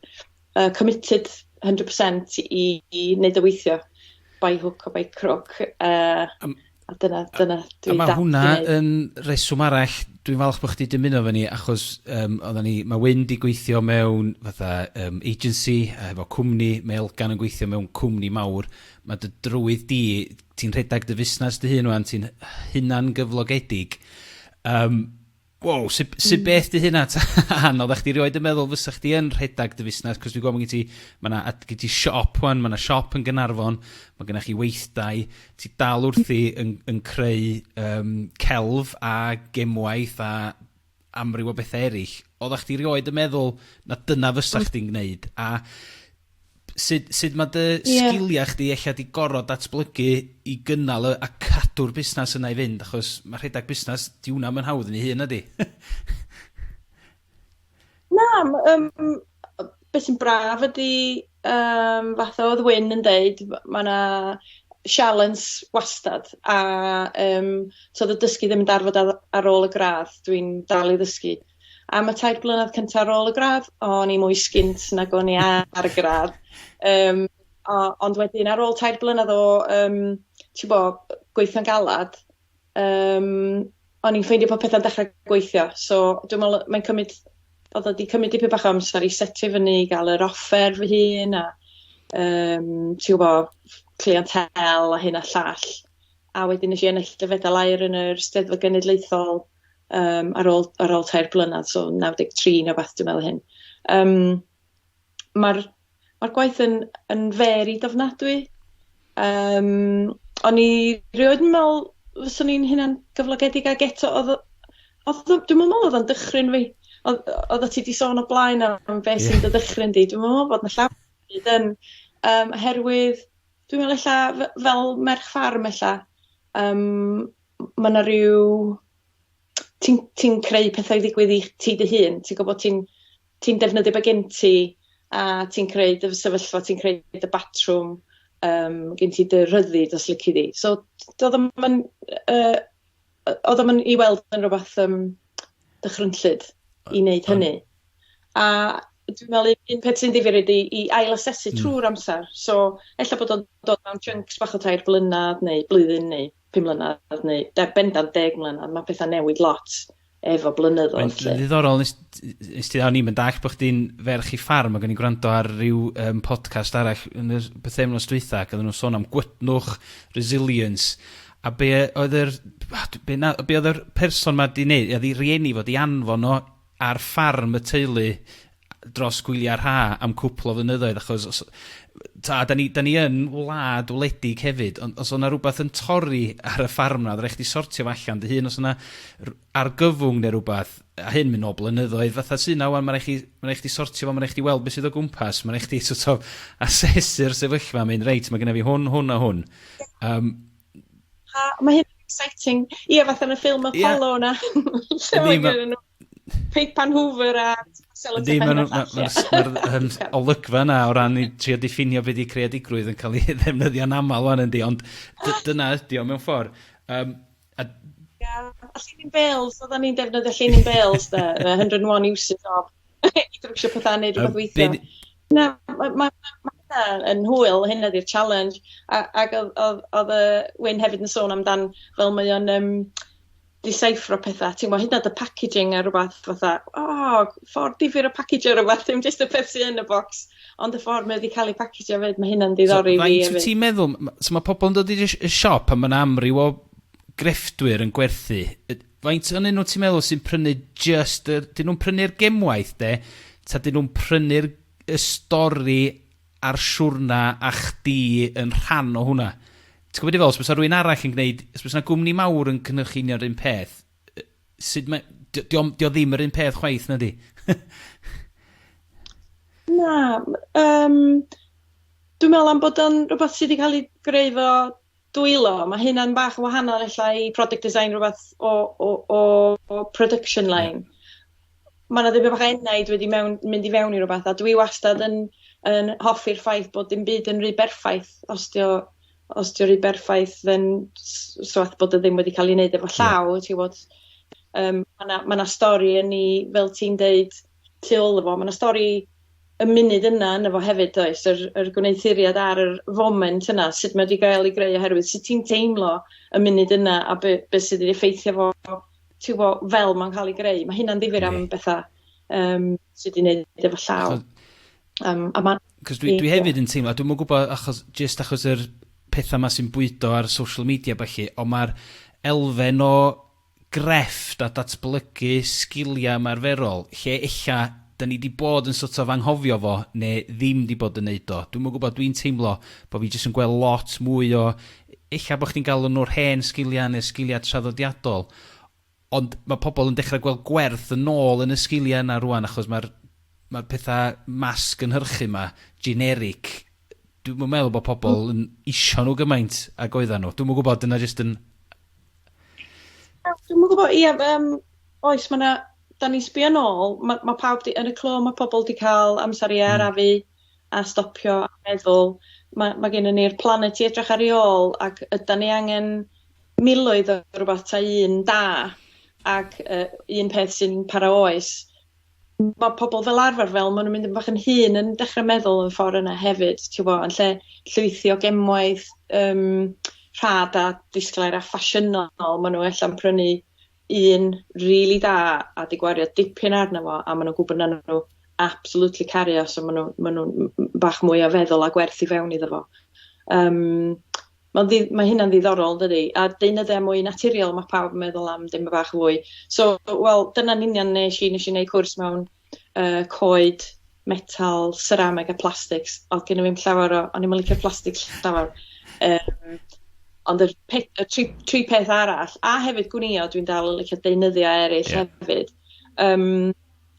yy committed hundred percent i i neud o weithio by hook or by crook yy a dyna dyna dwi dal i neud. A ma' hwnna yn reswm arall dwi'n falch bo' chdi dymuno efo ni achos yym oddan ni ma' Wyn 'di gweithio mewn fatha yym agency a hefo cwmni ma' Elgan yn gweithio mewn cwmni mawr ma' dy drywydd di ti'n rhedeg dy fusnes dy hun ŵan, ti'n hy- hunan gyflogedig, yym, wow, su' b- su' beth 'di hynna ta? Ann, oddach chdi rioed yn meddwl fysa chdi yn rhedeg dy fusnes? 'C'os dwi'n gwybod ma' gen ti ma' 'na ad- gen ti siop ŵan, ma' 'na siop yn Gaernarfon, ma' gennych chi weithdai, ti dal wrthi yn yn creu yym celf a gemwaith a amryw o bethau eraill, oeddach chdi rioed yn meddwl na dyna fysa chdi'n gwneud, a sut, sut mae dy yeah. sgiliau chdi ella di gorod datblygu i gynnal y, a cadw'r busnes yna i fynd, achos mae rhedeg busnes, di hwnna mae'n hawdd yn ei hun ydi. Na m- yym yy be' sy'n braf ydi yym fatha odd Wyn yn deud ma' ma' 'na sialens wastad a yym so o'dd y dysgu ddim yn darfod ar ar ôl y gradd dwi'n dal i ddysgu. Am y tair blynadd cynta ar ôl y gradd o'n i mwy sgint nag o'n i ar y gradd yym o- ond wedyn ar ôl tair blynadd o yym t'bo' gweithio'n galad Yym o'n i'n ffeindio popeth yn dechre gweithio so dwi me'wl yy mae'n cymyd odd o 'di cymyd dipyn bach o amser i setio fyny i ga'l yr offer fy hun a yym ti wbo clientelle a hyn a llall a wedyn nesh i ennill dy fedal aur yn yr Steddfod Genedlaethol yym ar ôl ar ôl tair blynadd so naw deg tri ne' wbath dwi me'wl o hyn. Yym. ma'r ma'r gwaith yn yn varied ofnadwy yym o'n i rioed yn me'wl fyswn i'n hunan gyflogedig ag eto odd o odd o dwi'm yn me'wl odd o'n dychryn fi odd yy odda ti 'di sôn o blaen am be' sy'n dy ddychryn di dwi'm yn me'wl bod 'na llawar o hyd yn yym oherwydd dwi'n me'wl ella f- fel merch ffarm ella yym m- ma' 'na ryw ti'n ti'n creu petha i ddigwydd i ti dy hun, ti'n gwbod ti'n ti'n defnyddio be' gen ti a ti'n creu dy fy- sefyllfa ti'n creu dy batrwm yym gen ti dy rhyddid os lici di. So d- do'dd o'm yn yy yy o'dd o'm yn i weld yn rwbath yym dychrynllyd i neud hynny. A dwi me'wl un un peth sy'n ddifyr ydi i ail asesu trw'r amsar so ella bod o'n dod mewn chunks bach o tair blynadd neu blwyddyn neu pum mlynedd neu de, bendant deg mlynedd, mae pethau newid lot efo blynyddoedd. Mae'n ddiddorol, nes ti ddawn ni'n dall bod chdi'n ferch i ffarm, ac o'n i'n gwrando ar ryw um, podcast arall yn y bythefnos dwytha, ac oedden nhw'n sôn am gwydnwch, resilience, a be oedd yr, be, na, be oedd yr person ma di wneud, oedd i rieni fod i anfon o ar ffarm y teulu dros gwylia rha am cwpl o flynyddoedd achos os ta da ni da ni yn wlad wledig hefyd ond os o'na rwbath yn torri ar y ffarm 'na odd rai' chdi sortio fo allan dy hun os o'na r- argyfwng ne' rwbath a hyn myn' nôl blynyddoedd fatha sy 'na ŵan ma' rai' chi ma' rai' chdi sortio fo ma' rai' chdi weld be' sydd o gwmpas ma' rai' chdi so't of asesu'r sefyllfa mynd reit ma' gynna fi hwn hwn a hwn. Yym. A ma' hyn exciting. Ia fatha yn y ffilm Apollo 'na. Ia. Lle ma' gynnyn nw Peipan Hoover a sellotape Ddim yn mae'r olygfa yna o ran i trio diffinio beth 'di creadigrwydd yn cael ei ddefnyddio'n aml wan yndi ond dyna ydi o mewn ffordd. Um, a... Ia, a llinyn bales, oedden ni'n defnyddio llinyn bales 'de, 101 uses of i drwsio pethau neu rhywbeth weithio. Na, mae ma' ma' hynna yn hwyl, hynna ydi'r challenge. A ac oedd oedd oedd yy Wyn hefyd yn sôn amdan fel mae o'n yym disieffro petha t'mo' hyd yn o'd y packaging a rwbath fatha o ffordd difyr o pacigio rwbath dim jyst y peth sy yn y bocs ond y ffordd mae o 'di ca'l ei packigio 'fyd ma' hynna'n diddori fi hefyd. So faint wt ti'n meddwl m- m- so ma' pobol yn dod i dy sh- y siop a ma' 'na amryw o grefftwyr yn gwerthu yy faint o'nyn nw ti'n meddwl sy'n prynu jyst yr 'dyn nw'n prynu'r gemwaith 'de 'ta 'dyn nw'n prynu'r y stori a'r siwrna a chdi yn rhan o hwnna. Ti'n gwybod be dwi'n feddwl? Os bysa rhywun arall yn gwneud... Os bysa 'na gwmni mawr yn cynhyrchu union yr un peth, sut mae... Dio, dio, dio ddim yr un peth chwaith, na di? na, yym... Dwi'n meddwl am bod o'n rhywbeth sydd wedi cael ei greu 'fo Dwylo, ma' hynna'n bach yn wahanol ella i product design rwbeth o o o o production line. Ie. Ma' 'na dipyn bach o enaid wedi mewn mynd i fewn i rwbeth a dwi wastad yn yn hoffi'r ffaith bod dim byd yn rhy berffaith os 'di o os 'di o rhy berffaith then s- so what bod o ddim wedi ca'l 'i neud efo llaw... Ie. ...ti wbod yym ma' 'na ma' 'na stori yn 'i fel ti'n deud tu ôl iddo fo. Ma' 'na stori y munud yna ynddo fo hefyd does yr yr gwneuthuriad ar yr foment yna sut mae 'di gael ei greu oherwydd sut ti'n teimlo y munud yna a be' be' sydd wedi effeithio fo ti'n gwbo fel mae'n cael ei greu. Mae hynna'n ddifyr am bethau um, sydd wedi gwneud efo llaw. Um, a ma... Cos dwi, dwi hefyd yn teimlo, dwi'n mwyn gwybod achos, just achos yr pethau yma sy'n bwydo ar social media felly, ond mae'r elfen o grefft a datblygu sgiliau ymarferol, lle ella 'da ni 'di bod yn sort of anghofio fo neu ddim 'di bod yn neud o. Dwi'm yn gwbod, dwi'n teimlo bo' fi jyst yn gweld lot mwy o, ella bo' chdi'n galw nhw'r hen sgiliau neu'r sgiliau traddodiadol, ond ma' pobl yn dechrau gweld gwerth yn ôl yn y sgiliau yna rŵan achos ma'r ma'r petha mass gynhyrchu 'ma, generic, dwi'm yn meddwl bo' pobl yn isio nhw gymaint ag oeddan nhw. Dwi'm yn gwbod, dyna jyst yn Dwi'n mwyn gwybod, ie, um, oes, mae yna, da ni'n sbio nôl, mae, mae pawb di, yn y clo, mae pobl wedi cael amser i arafu mm. a stopio a meddwl. Mae, mae gen i ni'r planet i edrych ar ei ôl ac yda ni angen miloedd o rhywbeth ta un da ac uh, un peth sy'n para oes. ma' pobol fel arfer fel ma' nw'n mynd yn bach yn hŷn yn dechre meddwl yn ffor yna hefyd t'wbo yn lle llwythio gemwaith yym rhad a disglair a ffasiynol ma' n'w ella'n prynu un rili da a 'di gwario dipyn arno fo a ma' nw'n gwbod nawn n'w absolutely caru o so ma' n'w ma' nw'n m- m- bach mwy o feddwl a gwerth i fewn iddo fo. Yym. Ma'n ddi- ma' hynna'n ddiddorol yndydi? A deunyddia mwy naturiol ma' pawb yn meddwl am dipyn bach fwy. So wel dyna'n union nesh i nesh i neud cwrs mewn yy coed, metal, serameg a plastics o'dd genno fi'm llawar o o'n i'm yn licio plastic llawar yym ond yr pe- y tri tri peth arall a hefyd gwnïo dwi'n dal yn licio deunyddia eryll... Ie. ...hefyd yym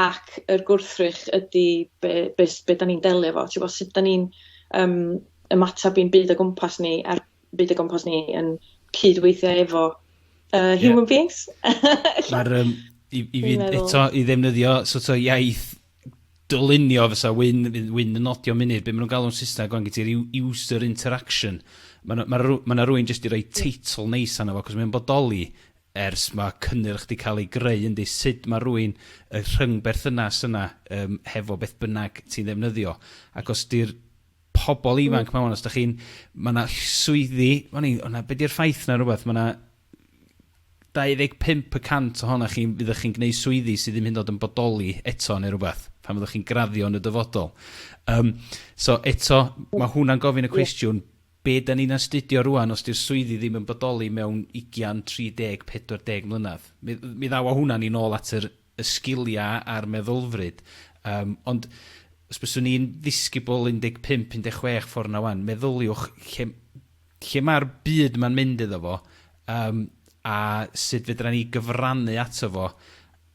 ac yr gwrthrych ydi be' be' s- be' 'dan ni'n delio efo t'bo' sut 'dan ni'n yym ymatab i'n byd o gwmpas ni a'r byd o gwmpas ni yn cyd-weithio efo yy human beings. Ma'r yym i i fi eto i ddefnyddio so't o' iaith dylunio fysa Wyn fydd Wyn yn nodio munud be' ma' nw'n galw'n Sysneg ŵan gen ti'r u- user interaction ma' 'na ma' rw- ma' 'na rywun jyst 'di roi teitl neis arno fo 'c'os mae o'n bodoli ers ma cynnyrch di cael ei greu yndi? Sud ma rwy'n, y rhyngberthynas yna yym hefo beth bynnag ti'n ddefnyddio? Ac os di'r pobl ifanc ma wan, os da chi'n, ma na swyddi, o'n i, o'na, be di'r ffaith na rhywbeth, ma na 25 y cant ohona chi fyddwch chi'n gwneud swyddi sydd ddim hyn dod yn bodoli eto neu rhywbeth, pan fyddwch chi'n graddio yn y dyfodol. Um, so eto, mae hwnna'n gofyn y cwestiwn, Be da ni'n astudio rwan os di'r swyddi ddim yn bodoli mewn ugian, tri deg, pedwar deg mlynedd? Mi mi ddaw a hwna ni nôl at yr y sgilia a'r meddylfryd yym ond os byswn i'n ddisgybl 15, 16 ffor na wan, meddyliwch lle lle ma'r byd ma'n mynd iddo fo yym a sud fedra ni gyfrannu ato fo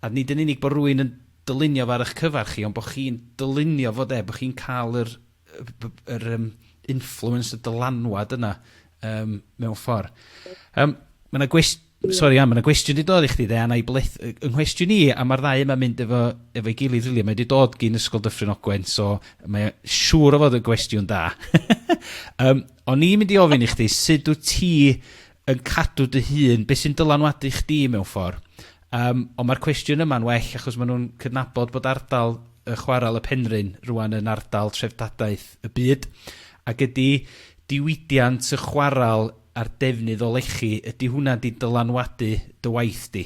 a nid yn unig bo rwyn yn dylunio fo ar ych cyfar chi ond bo chi'n dylunio fo de, bo chi'n ca'l yr y b- b- yr yym influence y dylanwad yna yym mewn ffor. Yym ma' 'na gwest- sori Ann ma' 'na gwestiwn 'di dod i chdi de a 'nai blith- yy 'y nghwestiwn i a ma'r ddau yma'n mynd efo efo'i gilydd rili a mae 'di dod gin Ysgol Dyffryn Ogwen so mae o siŵr o fod yn gwestiwn da. Yym o'n i'n mynd i ofyn i chdi sud wt ti yn cadw dy hun? Be' sy'n dylanwadu chdi mewn ffor? Yym, ond mae'r cwestiwn yma'n well achos maen nhw'n cydnabod bod ardal y chwarel y Penrhyn rŵan yn ardal treftadaeth y byd, ac ydy diwydiant y chwarel a'r defnydd o lechi, ydy hwnna wedi dylanwadu dy waith di?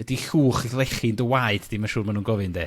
Ydy llwch lechi'n dy waed di, mae'n siŵr maen nhw'n gofyn de?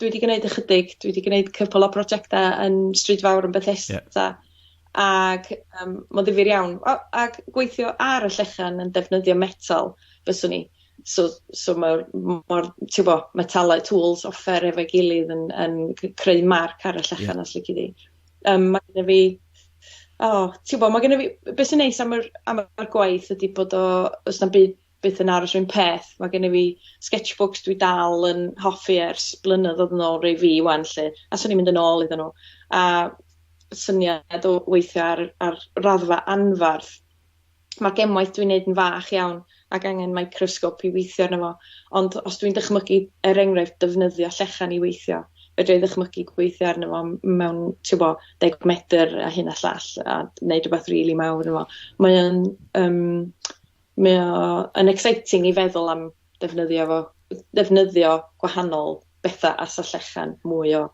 dwi 'di gneud ychydig dwi 'di gneud cwpwl o projecta yn Stryd Fawr yn Bethesda... Ie. ...ag yym ma'n ddifyr iawn o ag gweithio ar y llechen yn defnyddio metal fyswn i so so ma'r m- ma'r t'bo metalau tools offer efo'i gilydd yn yn c- creu marc ar y llechen... Ie. ...os lici di. Yym ma' gynno fi o t'bo ma' gynno fi b- be' sy'n neis am yr am y gwaith ydi bod o o's na'm byd byth yn aros run peth ma' gennyf fi sketchbooks dwi dal yn hoffi ers blynyddodd odd yn ôl rei fi wan 'lly a swn i'n mynd yn ôl iddyn nhw a syniad o weithio ar ar raddfa anfarth ma' gemwaith dwi'n neud yn fach iawn ac angen microsgop i weithio arno fo ond os dwi'n dychmygu er enghraifft defnyddio llechan i weithio fedrai ddychmygu gweithio arno fo mewn ti'bo deg medr a hyn a llall a neud rwbath rili mawr yno fo mae o'n yym Mae o yn exciting i feddwl am ddefnyddio fo, ddefnyddio gwahanol bethau as y llechen, mwy o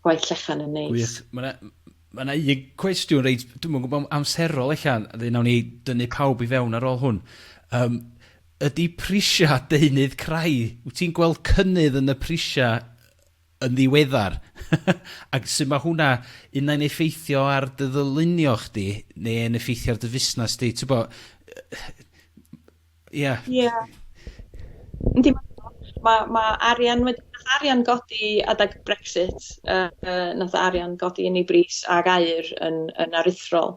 gwaith llechen yn neis. Gwych. Mae 'na mae 'na un cwestiwn reit, dwi'm yn gwybod am amserol ella, a wedyn wnawn ni dynnu pawb i fewn ar ôl hwn. Yym, ydy prisiau deunydd crai, wyt ti'n gweld cynnydd yn y prisiau yn ddiweddar ac sut ma' hwnna unai'n effeithio ar dy ddylunio chdi ne' yn effeithio ar dy fusnas di t'bo yy ia. Ia. Yndi ma' ma' arian wedi nath arian godi adag Brexit yy yy nath arian godi yn ei bris ag aur yn yn aruthrol.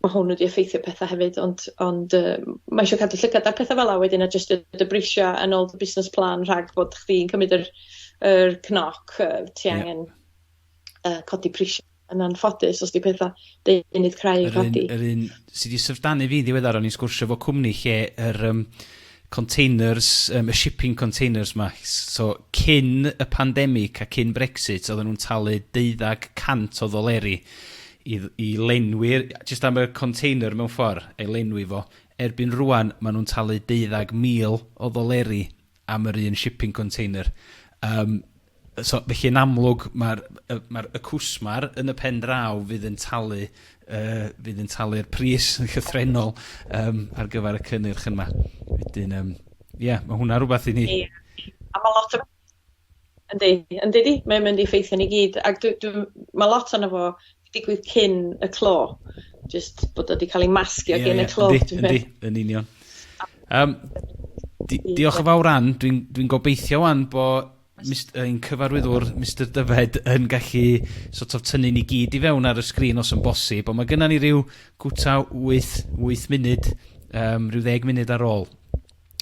ma' hwn wedi effeithio petha hefyd ond ond yym ma' isio cadw llygad ar petha fela wedyn a jyst dy brisia yn ôl dy busnes plan rhag bod chdi'n cymryd yr yr cnoc yy ti angen yy codi prisia yn anffodus os di petha deunydd crai yn codi. Yr un yr un sy di syfrdanu fi'n ddiweddar o'n i'n sgwrsio efo cwmni lle yr yym containers yym y shipping containers 'ma so cyn y pandemic a cyn Brexit oedden nhw'n talu deuddag cant o ddoleri i i lenwi'r jyst am y container mewn ffordd ei lenwi fo erbyn rŵan maen nhw'n talu deuddag mil o ddoleri am yr un shipping container yym So, felly yn amlwg, mae'r y mae'r y cwsmer yn y pen draw fydd yn talu yy fydd yn talu'r pris yn llythrennol yym ar gyfer y cynnyrch yma. Wedyn yym ie, mae hwnna rhywbeth i ni... Ie. A mae lot o... Yndi, yn dydi? Mae'n mynd i effeithio ni gyd ac dwi dwi m- mae lot ono fo digwydd cyn y clo. Just bod o wedi cael ei masgio yeah, gen yeah. y clo. Yndi, yndi, yn union. Um, di, diolch yn fawr Ann, dwi'n dwi gobeithio wan bo ein cyfarwyddwr Mr Dyfed yn gallu sort of tynnu ni gyd i fewn ar y sgrin os yn bosib, ond mae gennym ni rhyw gwta 8, 8 munud, um, rhyw ddeg munud ar ôl.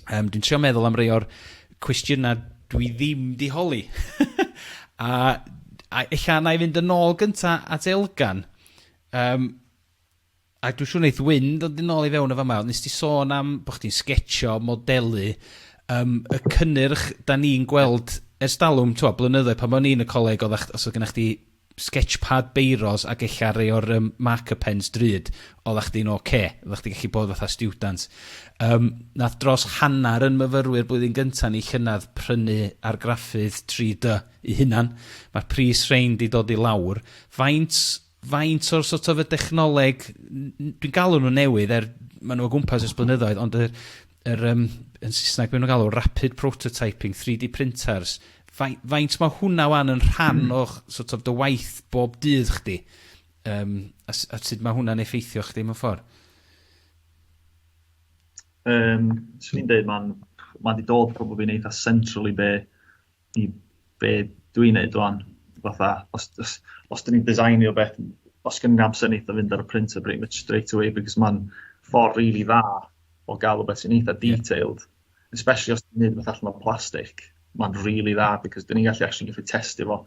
Yym dwi'n trio meddwl am rei o'r cwestiyna' dwi ddim 'di holi. A a ella 'nai fynd yn ôl gynta at Elgan yym a dwi siŵr neith Wyn ddod yn ôl i fewn yn fama. Nest di sôn am bo' chdi'n sgetsio, modelu yym y cynnyrch 'dan ni'n gweld ers dalwm t'mo' blynyddoedd pan o'n i yn y coleg oddach os odd gynna chdi Sketchpad beiros ag ella rei o'r yym marker pens drud, oddach chdi'n ok. Oddach chdi gallu bod fatha stiwdant. Yym, nath dros hanner yn myfyrwyr blwyddyn gynta ni llynadd prynu argraffydd 3-dy 'u hunan. Ma'r pris rhein 'di dod i lawr. Faint faint o'r sort of y dechnoleg, n- n- dwi'n galw nhw'n newydd er ma' nhw o gwmpas ers blynyddoedd ond yr yr um, yn Saesneg beth nhw'n galw, rapid prototyping, 3D printers, faint, faint mae hwnna wan yn rhan mm. o'ch sort of dy waith bob dydd chdi? Um, a, a sut mae hwnna'n effeithio chdi mewn ffordd? Um, Swn i'n dweud, mae'n ma wedi dod probably yn eitha central i be i be dwi'n neud wan, fatha os os os dyn ni'n designio beth, os gen i'n amser neith o fynd ar y printer pretty much straight away because ma'n ffordd rili dda o ga'l rwbeth sy'n eitha detailed, especially os ti'n neud rwbeth allan o plastic, ma'n rili dda because dyn ni'n gallu actually gallu testio fo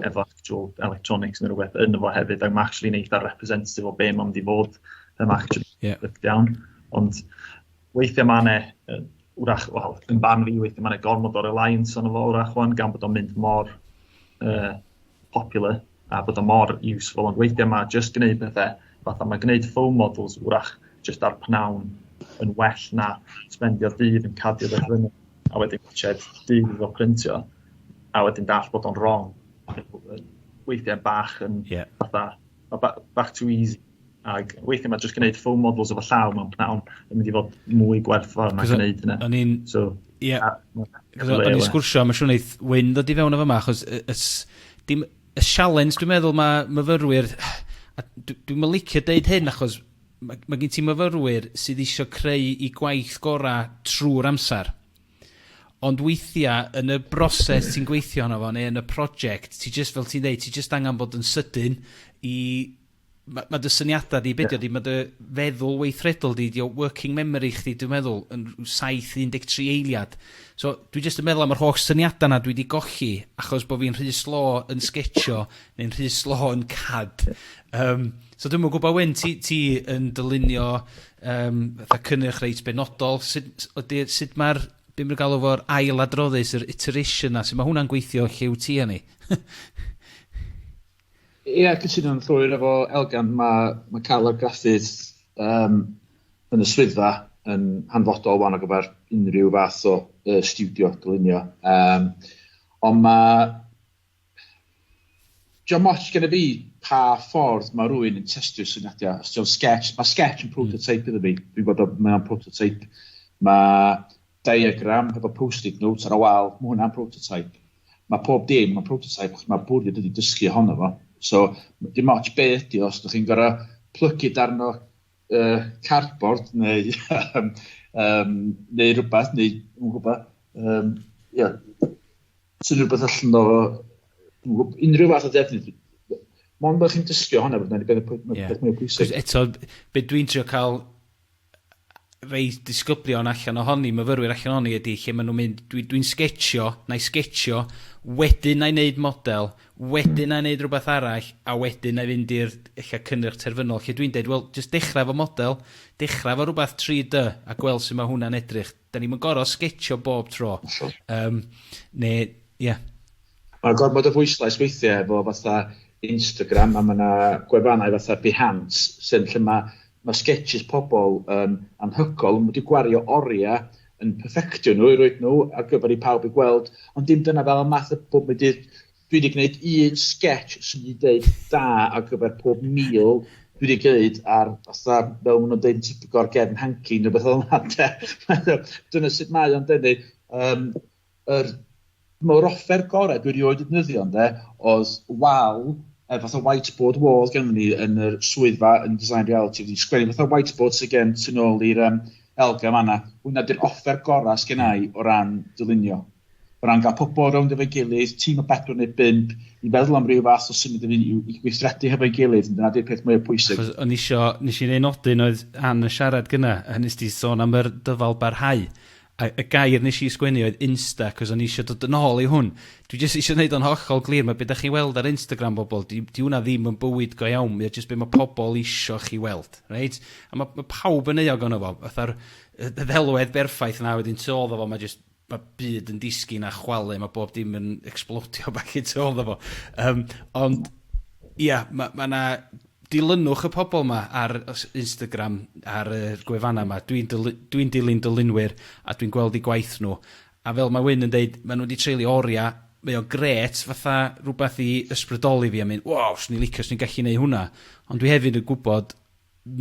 efo actual electronics ne' rwbeth ynddo fo hefyd a ma' actually'n eitha representative o be' ma'n mynd i fod yym actually... Ie. ...breakdown ond weithiau mae yna, wrach, wel, yn barn fi, weithiau mae yna gormod o reliance ond fo, wrach, wan, gan bod o'n mynd mor uh, popular a bod o'n mor useful, ond weithiau mae just gwneud pethau, fatha mae gwneud foam models, wrach, just ar pnawn yn well na spendio dydd yn cadio beth fyny, a wedyn gwachod dydd iddo printio, a wedyn dall bod o'n wrong. Weithiau bach yn yeah. fatha, back to easy Ac weithiau mae jyst gwneud full models efo llaw mewn pnawn yn mynd i fod mwy gwerth fawr mae'n gwneud hynna. O'n i'n... So, ie. O'n i'n sgwrsio, mae'n siŵr wneud Wyn ddod i fewn efo yma, achos y, y, y, y sialens dwi'n meddwl mae myfyrwyr... Dwi'n mynd licio deud hyn achos mae, mae gen ti myfyrwyr sydd eisiau creu i gwaith gorau trwy'r amser. Ond weithiau, yn y broses ti'n gweithio yna fo, neu yn y prosiect, ti jyst, fel ti'n dweud, ti jyst angen bod yn sydyn i Ma' ma' dy syniada di, be' 'di o 'di ma' dy feddwl weithredol di, 'di o working memory chdi dwi'n meddwl yn rw saith un deg tri eiliad. So dwi jyst yn meddwl am yr holl syniada 'na dwi 'di golli achos bo' fi'n rhy slo yn sgetsio neu'n rhy slo yn CAD. Yym so dwi'm yn gwbo Wyn ti ti yn dylunio yym fatha cynnyrch reit benodol sut s- ydi sut ma'r be' ma' nw galw fo'r ail adroddus yr iteration 'na su' ma' hwnna'n gweithio lle wt ti a ni? Ia, cytuno'n llwyr efo Elgan. Mae, mae cael argraffudd um, yn y swyddfa yn hanfodol wan o gyfer unrhyw fath o uh, studio dylunio. Um, ond mae... John Moch gen i fi pa ffordd mae rhywun yn testio syniadau. Os ti'n sketch, mae sketch yn hmm. prototype iddo fi. Dwi'n gwybod mae'n prototype. Mae Diagram hefo post-it notes ar y wal, mae hwnna'n prototype. Mae pob dim yn prototype, achos mae bwriad ydy dysgu ohono fo. So, dim ots be ydy o, os ydych chi'n gorau plygu darn o uh, cardboard neu, um, neu rhywbeth, neu, yn gwybod, um, yeah, sy'n rhywbeth allan o unrhyw fath o defnydd. Mond bod chi'n dysgu ohono, bod yna'n beth mwy pwysig. Eto, beth dwi'n trio cael rhei disgyblion allan ohoni, myfyrwyr allan ohoni ydy lle maen nhw'n mynd, dwi, dwi'n sgetsio, na i sgetsio, wedyn na i wneud model, wedyn na i wneud rhywbeth arall, a wedyn na i fynd i'r lle cynnyrch terfynol, lle dwi'n dweud, wel, jyst dechrau fo model, dechrau fo rhywbeth 3D, a gweld sut mae hwnna'n edrych. 'Da ni'm yn gor'o' sgetsio bob tro. Hollol. Yym, ne', ie. Ma' gormod o bwyslais weithie efo fatha Instagram a ma' 'na gwefannau fatha Behance sy'n lle ma' ma' sgetsys pobol yn anhygol, ma' nw 'di gwario oria yn perfectio nw i roid nw ar gyfer i pawb i gweld, ond dim dyna fel y math y bob 'im byd Dwi wedi gwneud un sketch sy'n mynd i ddeud da ar gyfer pob meal dwi wedi gwneud ar fatha fel maen nhw'n deud yn typical ar gefn hanky neu beth fel yna de. Dyna sut mae o'n denu. Um, yr, mae'r offer gorau dwi erioed wedi defnyddio ynde oedd wal er fatha whiteboard wall gen ni yn yr swyddfa yn design reality wedi sgwennu fatha whiteboard sy'n gen tu nôl i'r um, elga fanna. Hwna di'r offer gorau sgennau o ran dylunio. O ran cael pobl rownd efo'i gilydd, tîm o bedwar neu bump, i feddwl am ryw fath o symud i fyny yw i gweithredu hefo'i gilydd, dyna 'di'r peth mwya pwysig. Achos o'n i isio, nes i un nodyn oedd Ann yn siarad gynna, a nes di sôn am yr dyfal barhau, a y gair nes i sgwennu oedd insta, achos o'n i isio dod yn ôl i hwn. Dwi jyst isio neud o'n hollol glir, ma' be' dach chi'n weld ar Instagram bobl, di di hwnna ddim yn bywyd go iawn, mae o jyst be' ma' pobl isio chi weld, reit? A ma' ma' pawb yn euog ono fo, fatha'r y y ddelwedd berffaith na wedyn tu ôl iddo fo ma' jyst ma' byd yn disgyn a chwalu ma' bob dim yn ecsblodio back i tu ôl 'ddo fo yym ond ia ma' ma' 'na dilynwch y pobol 'ma ar y s- Instagram ar yr gwefanna 'ma dwi'n dylu- dwi'n dilyn dylunwyr a dwi'n gweld 'u gwaith nw a fel ma' Wyn yn deud ma' nw 'di treulio oria mae o grêt fatha rwbath i ysbrydoli fi a mynd waw swn i'n licio swn i'n gallu neu' hwnna ond dwi hefyd yn gwbod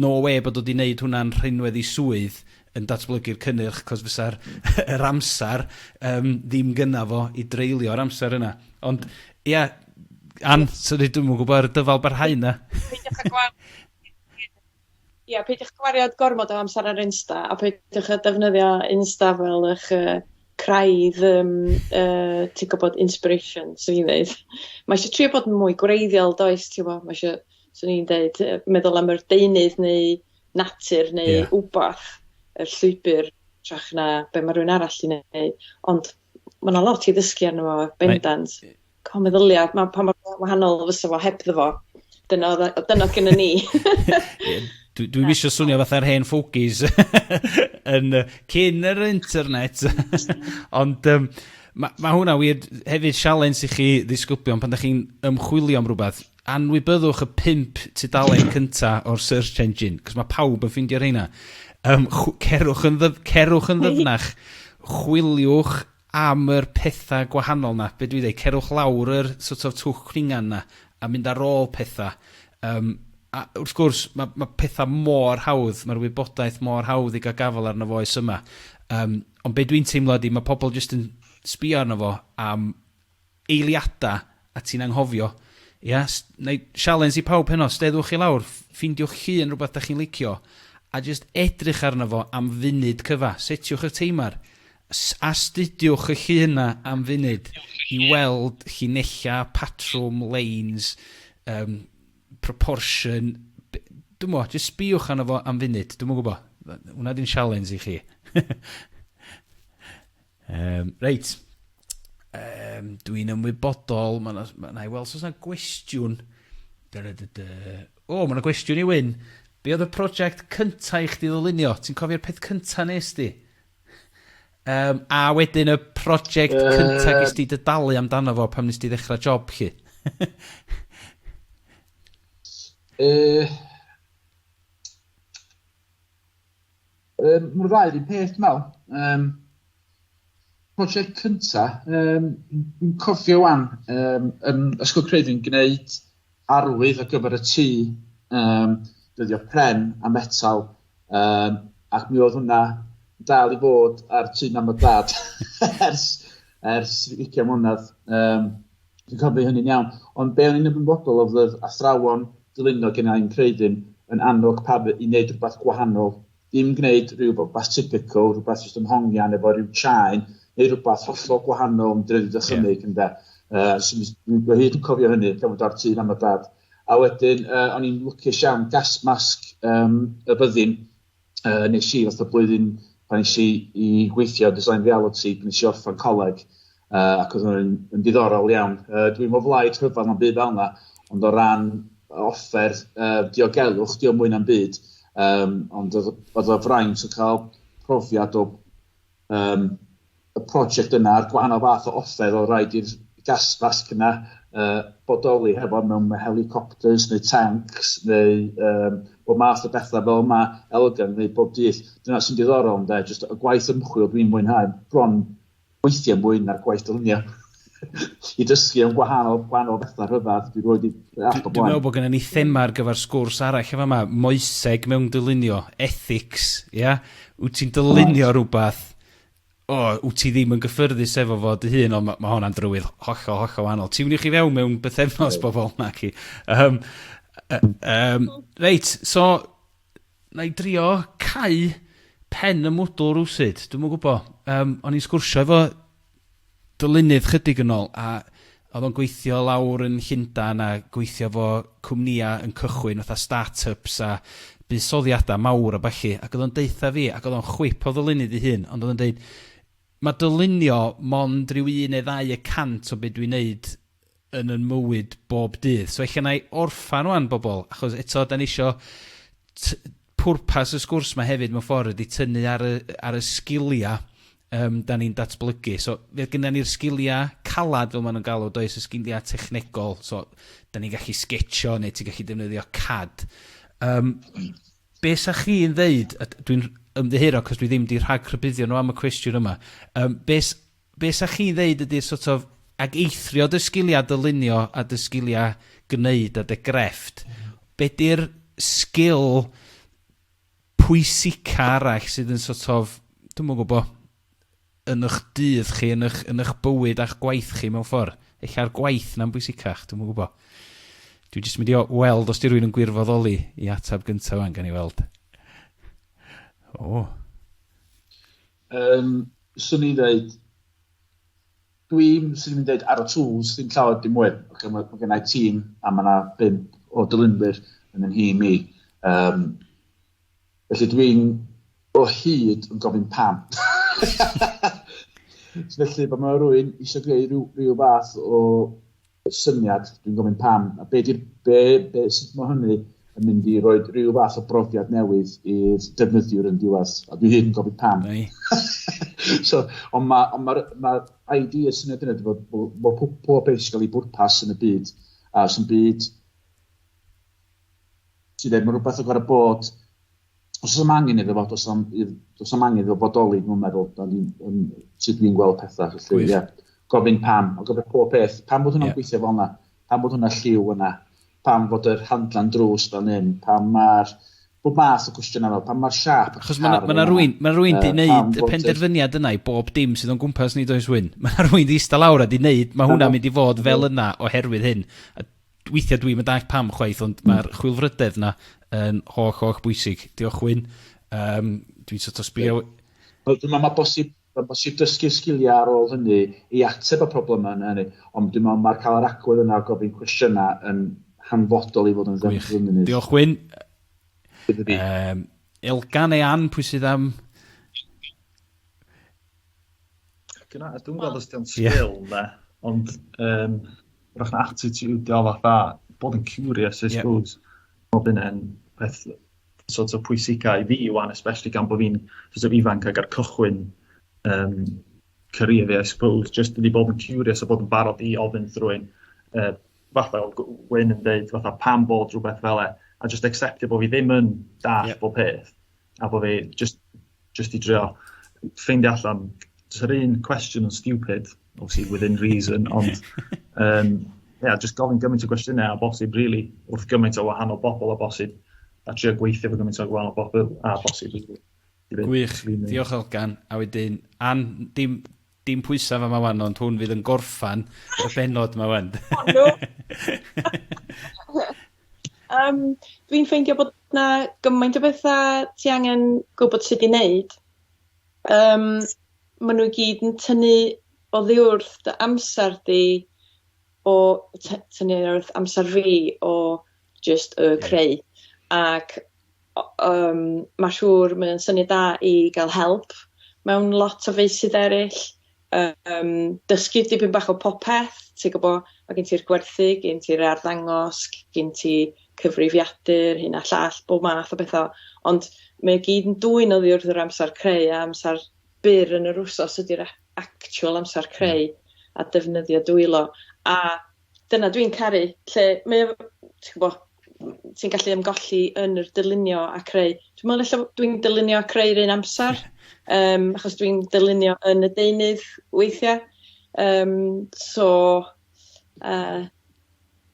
no wê bod o 'di 'neud hwnna'n rhinwedd i swydd yn datblygu'r cynnyrch, 'cos fysa'r yr amser yym ddim gynna fo i dreulio'r amser yna. Ond, ia, Ann, sori dwi'm yn gwybod ar y dyfal barhau 'na. Peidiwch â gwa- ia, peidiwch â gwario gormod o amser ar Insta, a peidiwch â defnyddio Insta fel 'ych yy craidd yym yy ti'n gwybod inspiration 'swn i'n ddeud. Ma' isio trio bod yn mwy gwreiddiol does, ti wbo, ma' isio swn i'n deud yy meddwl am yr deunydd neu natur neu... Ie. ...wbath y llwybyr trach na be' ma' rywun arall 'di neud ond ma' 'na lot i ddysgu arno fo bendant. Mae... Ca'l meddylia ma' pa mor wa- wahanol fysa fo hebddo fo. Dyna odd o dyna odd gennon ni. Ie dwi dwi'm isio swnio fatha'r hen fogies yn yy cyn yr internet ond yym ma' ma' hwnna wir hefyd sialens i chi ddisgyblion pan 'dach chi'n ymchwilio am rwbeth Anwybyddwch y pump tudalen cynta o'r search engine, 'c'os ma' pawb yn ffindio rheina. Yym chw- cerwch yn ddyf- cerwch yn ddyfnach, chwiliwch am yr petha gwahanol 'na, be' dwi ddeu', cerwch lawr yr sort of twll cwningan 'na, a mynd ar ôl petha. Yym a wrth gwrs ma' ma' petha mor hawdd, ma'r wybodaeth mor hawdd i ga'l gafel arno fo oes yma. Yym ond be' dwi'n teimlo ydi ma' pobol jyst yn sbïo arno fo am eiliada a ti'n anghofio. Ia? S- Nai sialens i pawb heno, steddwch i lawr, f- ffindiwch 'ych hun rwbath 'dach chi'n licio, a jyst edrych arno fo am funud cyfa. Setiwch 'ych teimar. S- Astudiwch 'ych hun 'na am funud i weld llinella, patrwm, leins, um, proportion, b- dw'm mo, jyst sbïwch arno fo am funud. Dw'm yn gwbo. Hwnna 'di'n sialens i chi. Um, reit, um, dwi'n ymwybodol, mae yna, ma i weld os yna gwestiwn. O, oh, mae yna gwestiwn i Wyn. Be oedd y prosiect cyntaf i chdi ddylunio? Ti'n cofio'r peth cyntaf nes di? Um, a wedyn y prosiect uh... cyntaf gys di dydalu amdano fo pam nes di ddechrau job chi? uh, Um, Mae'r ddau yr un peth, dwi'n meddwl. Um, prosiect cynta, um, dwi'n cofio wan, um, yn Ysgol Creifi'n gwneud arwydd ar gyfer y tŷ, um, dyddio pren a metal, um, ac mi oedd hwnna dal i fod ar tŷ mam a dad ers, ers 20 mlynedd. Um, Dwi'n cofio hynny'n iawn. Ond be o'n i'n ymwybodol oedd oedd athrawon dylunio gen i'n creudyn yn annog pawb i wneud rhywbeth gwahanol. Dim gwneud rhywbeth typical, rhywbeth jyst yn hongian efo rhyw chain, neu rhywbeth hollol gwahanol yn dredu dychymyg yeah. ynde. Uh, so, dwi hyd yn cofio hynny, gan fod ar tîn am y dad. A wedyn, uh, o'n i'n lwcus iawn, gas masg um, y byddin, uh, nes i fath o blwyddyn pan nes i, i gweithio design reality, pan nes i orffan coleg, uh, ac oedd hwnna'n yn diddorol iawn. Uh, dwi'n mo flaid rhyfedd am byd fel yna, ond o ran offer uh, diogelwch, dio mwy na'm byd, um, ond oedd o fraint o cael profiad o um, y prosiect yna a'r gwahanol fath o offer oedd rhaid i'r gasfasg yna uh, bodoli hefo mewn helicopters neu tanks neu um, bod math o bethau fel yma elgan neu bob dydd. Dyna sy'n diddorol ynda, jyst y gwaith ymchwil dwi'n mwynhau bron weithiau mwy na'r gwaith dylunio. I dysgu am gwahanol, gwahanol bethau rhyfedd, dwi'n rhoi di app o blaen. Dwi'n meddwl bod gennym ni thema ar gyfer sgwrs arall efo yma, moeseg mewn dylunio, ethics, ia? Yeah? Wyt ti'n dylunio right. rhywbeth o, wt ti ddim yn gyffyrddus efo fo dy hun, ond ma' ma' honna'n drywydd hollol, hollol wahanol. Tiwniwch chi fewn mewn bythefnos bobl, na chi. Um, um, reit, so, na i drio cau pen y mwdl rwsyd, dwi'n mwyn gwybod. Um, o'n i'n sgwrsio efo dylunydd chydig yn ôl a oedd o'n gweithio lawr yn Llundain a gweithio fo cwmnïa yn cychwyn fatha start-ups a buddsoddiada mawr a ballu ac oedd o'n deutha fi ac oedd o'n chwip o ddylunydd ei hun ond oedd o'n deud ma' dylunio mond rhyw un neu ddau y cant o be dwi'n neud yn yn mywyd bob dydd. So ella na'i orffan wan bobl, achos eto da ni isio t- pwrpas y sgwrs mae hefyd mewn ffordd ydy tynnu ar y, ar y sgiliau um, da ni'n datblygu. So fe gyda ni'r sgiliau calad fel maen nhw'n galw, does y sgiliau technegol, so da ni'n gallu sgetio neu ti'n gallu defnyddio CAD. Um, be sa chi'n ddeud, dwi'n ymddiheuro cos dwi ddim di rhag rhybuddio nhw am y cwestiwn yma, um, beth be' 'sa chi'n ddeud ydi'r sort of, ag eithrio dy sgilia dylunio a dy sgilia gneud a dy grefft, be' 'di'r sgil pwysica arall sydd yn sort of, dwi'm yn gwbo, yn ych dydd chi, yn ych, yn ych bywyd a'ch gwaith chi mewn ffor? Ella'r gwaith 'na'n bwysicach, dwi'm yn gwbo. Dwi jyst mynd i o- weld os 'di rywun yn gwirfoddoli i atab gynta ŵan, gawn ni weld. O! Um, swn i'n dweud, dwi'n sy'n mynd dweud ar y tools, ddim llawer dim mwy. Okay, mae, mae gennau tîm a mae yna bimp o dylunwyr yn yn hi mi. Um, felly dwi'n o hyd yn gofyn pam. felly, bod mae rwy'n eisiau gwneud rhyw, rhyw fath o syniad, dwi'n gofyn pam, a be di'r, be, be, sut mae hynny yn mynd i roi rhyw fath o brofiad newydd i'r defnyddiwr yn diwedd, a dwi hyn yn gofyn pam. so, ond mae'r ma, ma, ma, ma ID y syniad yna, bod, bod, bod pob, pob beth sy'n cael ei bwrpas yn y byd, a sy'n byd sydd ddim yn rhywbeth o gorau bod os oes am angen iddo fo, os am, os am angen iddo fo bodoli, dwi'n meddwl, da ni, um, sut dwi'n gweld pethau, felly, ie. Yeah. Gofyn pam, o gofyn pob peth, pam bod hwnna'n yeah. gweithio fel yna, pam bod hwnna lliw yna, pam bod yr handlan drws fel hyn, pam mae'r bob math o cwestiynau fel, pam mae'r siap y Chos mae yna rwy'n ma rwy'n di wneud y penderfyniad yna i bob dim sydd o'n gwmpas ni does wyn. Mae yna rwy'n di eista lawr a di wneud, mae hwnna'n mynd i fod fel yna oherwydd hyn. weithiau dwi'm yn dallt pam chwaith, ond hmm. mae'r chwilfrydedd yna yn holl, holl bwysig. Diolch Wyn. Um, dwi'n sort of sbio... Mae ma bosib, ma bosib dysgu sgiliau ar ôl hynny i ateb y problemau yna hynny. Ond dwi'n meddwl mae'r cael yr agwedd yna o gofyn cwestiynau yn hanfodol i fod yn ddefnyddiol. Diolch Wyn. Um, Elgan e an, pwy sydd am... Dyna, dwi'n gweld os di'n sgil na, ond um, rwy'n attitude o fatha, bod yn curious, I suppose. Yeah. Bod yn peth sort of pwysicau i fi wan, especially gan bod fi'n sort of ifanc ag ar cychwyn um, career fi, I suppose, just i bod yn curious a bod yn barod i ofyn drwy'n uh, fatha Wyn yn dweud, fatha pam bod rhywbeth fel e, a just acceptio bod fi ddim yn dall yeah. bob peth. a bod fi just, just i drio ffeindio allan, jyst yr un cwestiwn yn stupid, obviously within reason, ond um, yeah, just gofyn gymaint o gwestiynau a bosib, really, wrth gymaint o wahanol bobl a bosib, a trio gweithio fo gymaint o wahanol bobl a bosib. Gwych, diolch Elgan, a wedyn, an, dim, Dim pwysa fama wan ond hwn fydd yn gorffan y bennod ma wan. O no! Yym dwi'n ffeindio bod 'na gymaint o betha ti angen gwbod sud i neud yym ma' nw i gyd yn tynnu oddiwrth dy amser di o ty- tynnu oddiwrth amser fi o jyst yy creu ac yym ma' siŵr mae o'n syniad da i ga'l help mewn lot o feysydd eryll yym dysgu dipyn bach o popeth ti gwbo ma' gen ti'r gwerthu gen ti'r arddangos gin ti cyfrifiadur hyn a llall bob math o betha ond mae o gyd yn dwyn oddi wrth yr amsar creu a amsar byr yn yr wsos ydi'r a- actual amsar creu a defnyddio dwylo a dyna dwi'n caru lle mae o ti'n gwbo ti'n gallu ymgolli yn yr dylunio a creu. Dwi me'wl ella dwi'n dylunio a creu 'r un amsar yym achos dwi'n dylunio yn y deunydd weithia' yym so yy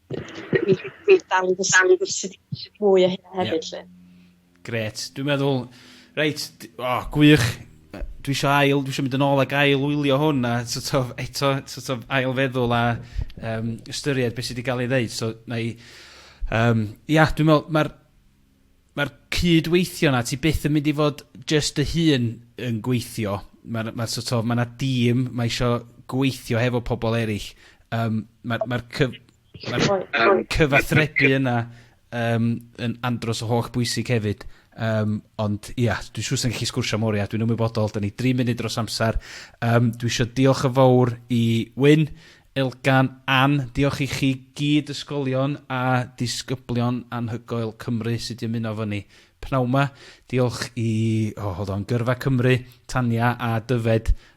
dwi dwi dal i ddysgu mwy o hynna hefyd 'lly. Grêt. Dwi'n meddwl, reit, d- o, gwych. Yy dwi isio ail, dwi isio mynd yn ôl ac ail wylio hwn a so't of eto so't of ail feddwl a yym ystyried be' sy 'di ga'l ei ddeud so 'nai yym ia dwi'n me'wl ma'r ma'r cyd-weithio 'na ti byth yn mynd i fod jyst dy hun yn gweithio. Ma'r ma' so't of ma' 'na dîm, ma' isio gweithio hefo pobol eryll. Yym ma'r ma'r cyf- Mae'r cyfathrebu yna um, yn andros o holl bwysig hefyd. Um, ond ia, yeah, dwi'n siŵr sy'n gallu sgwrsio mor ia, dwi'n ymwybodol, da ni 3 munud dros amser. Um, dwi eisiau diolch yn fawr i Wyn, Elgan, Ann, diolch i chi gyd ysgolion a disgyblion anhygoel Cymru sydd wedi ymuno fo ni pnawn ma. Diolch i, oh, hold on, Gyrfa Cymru, Tania a Dyfed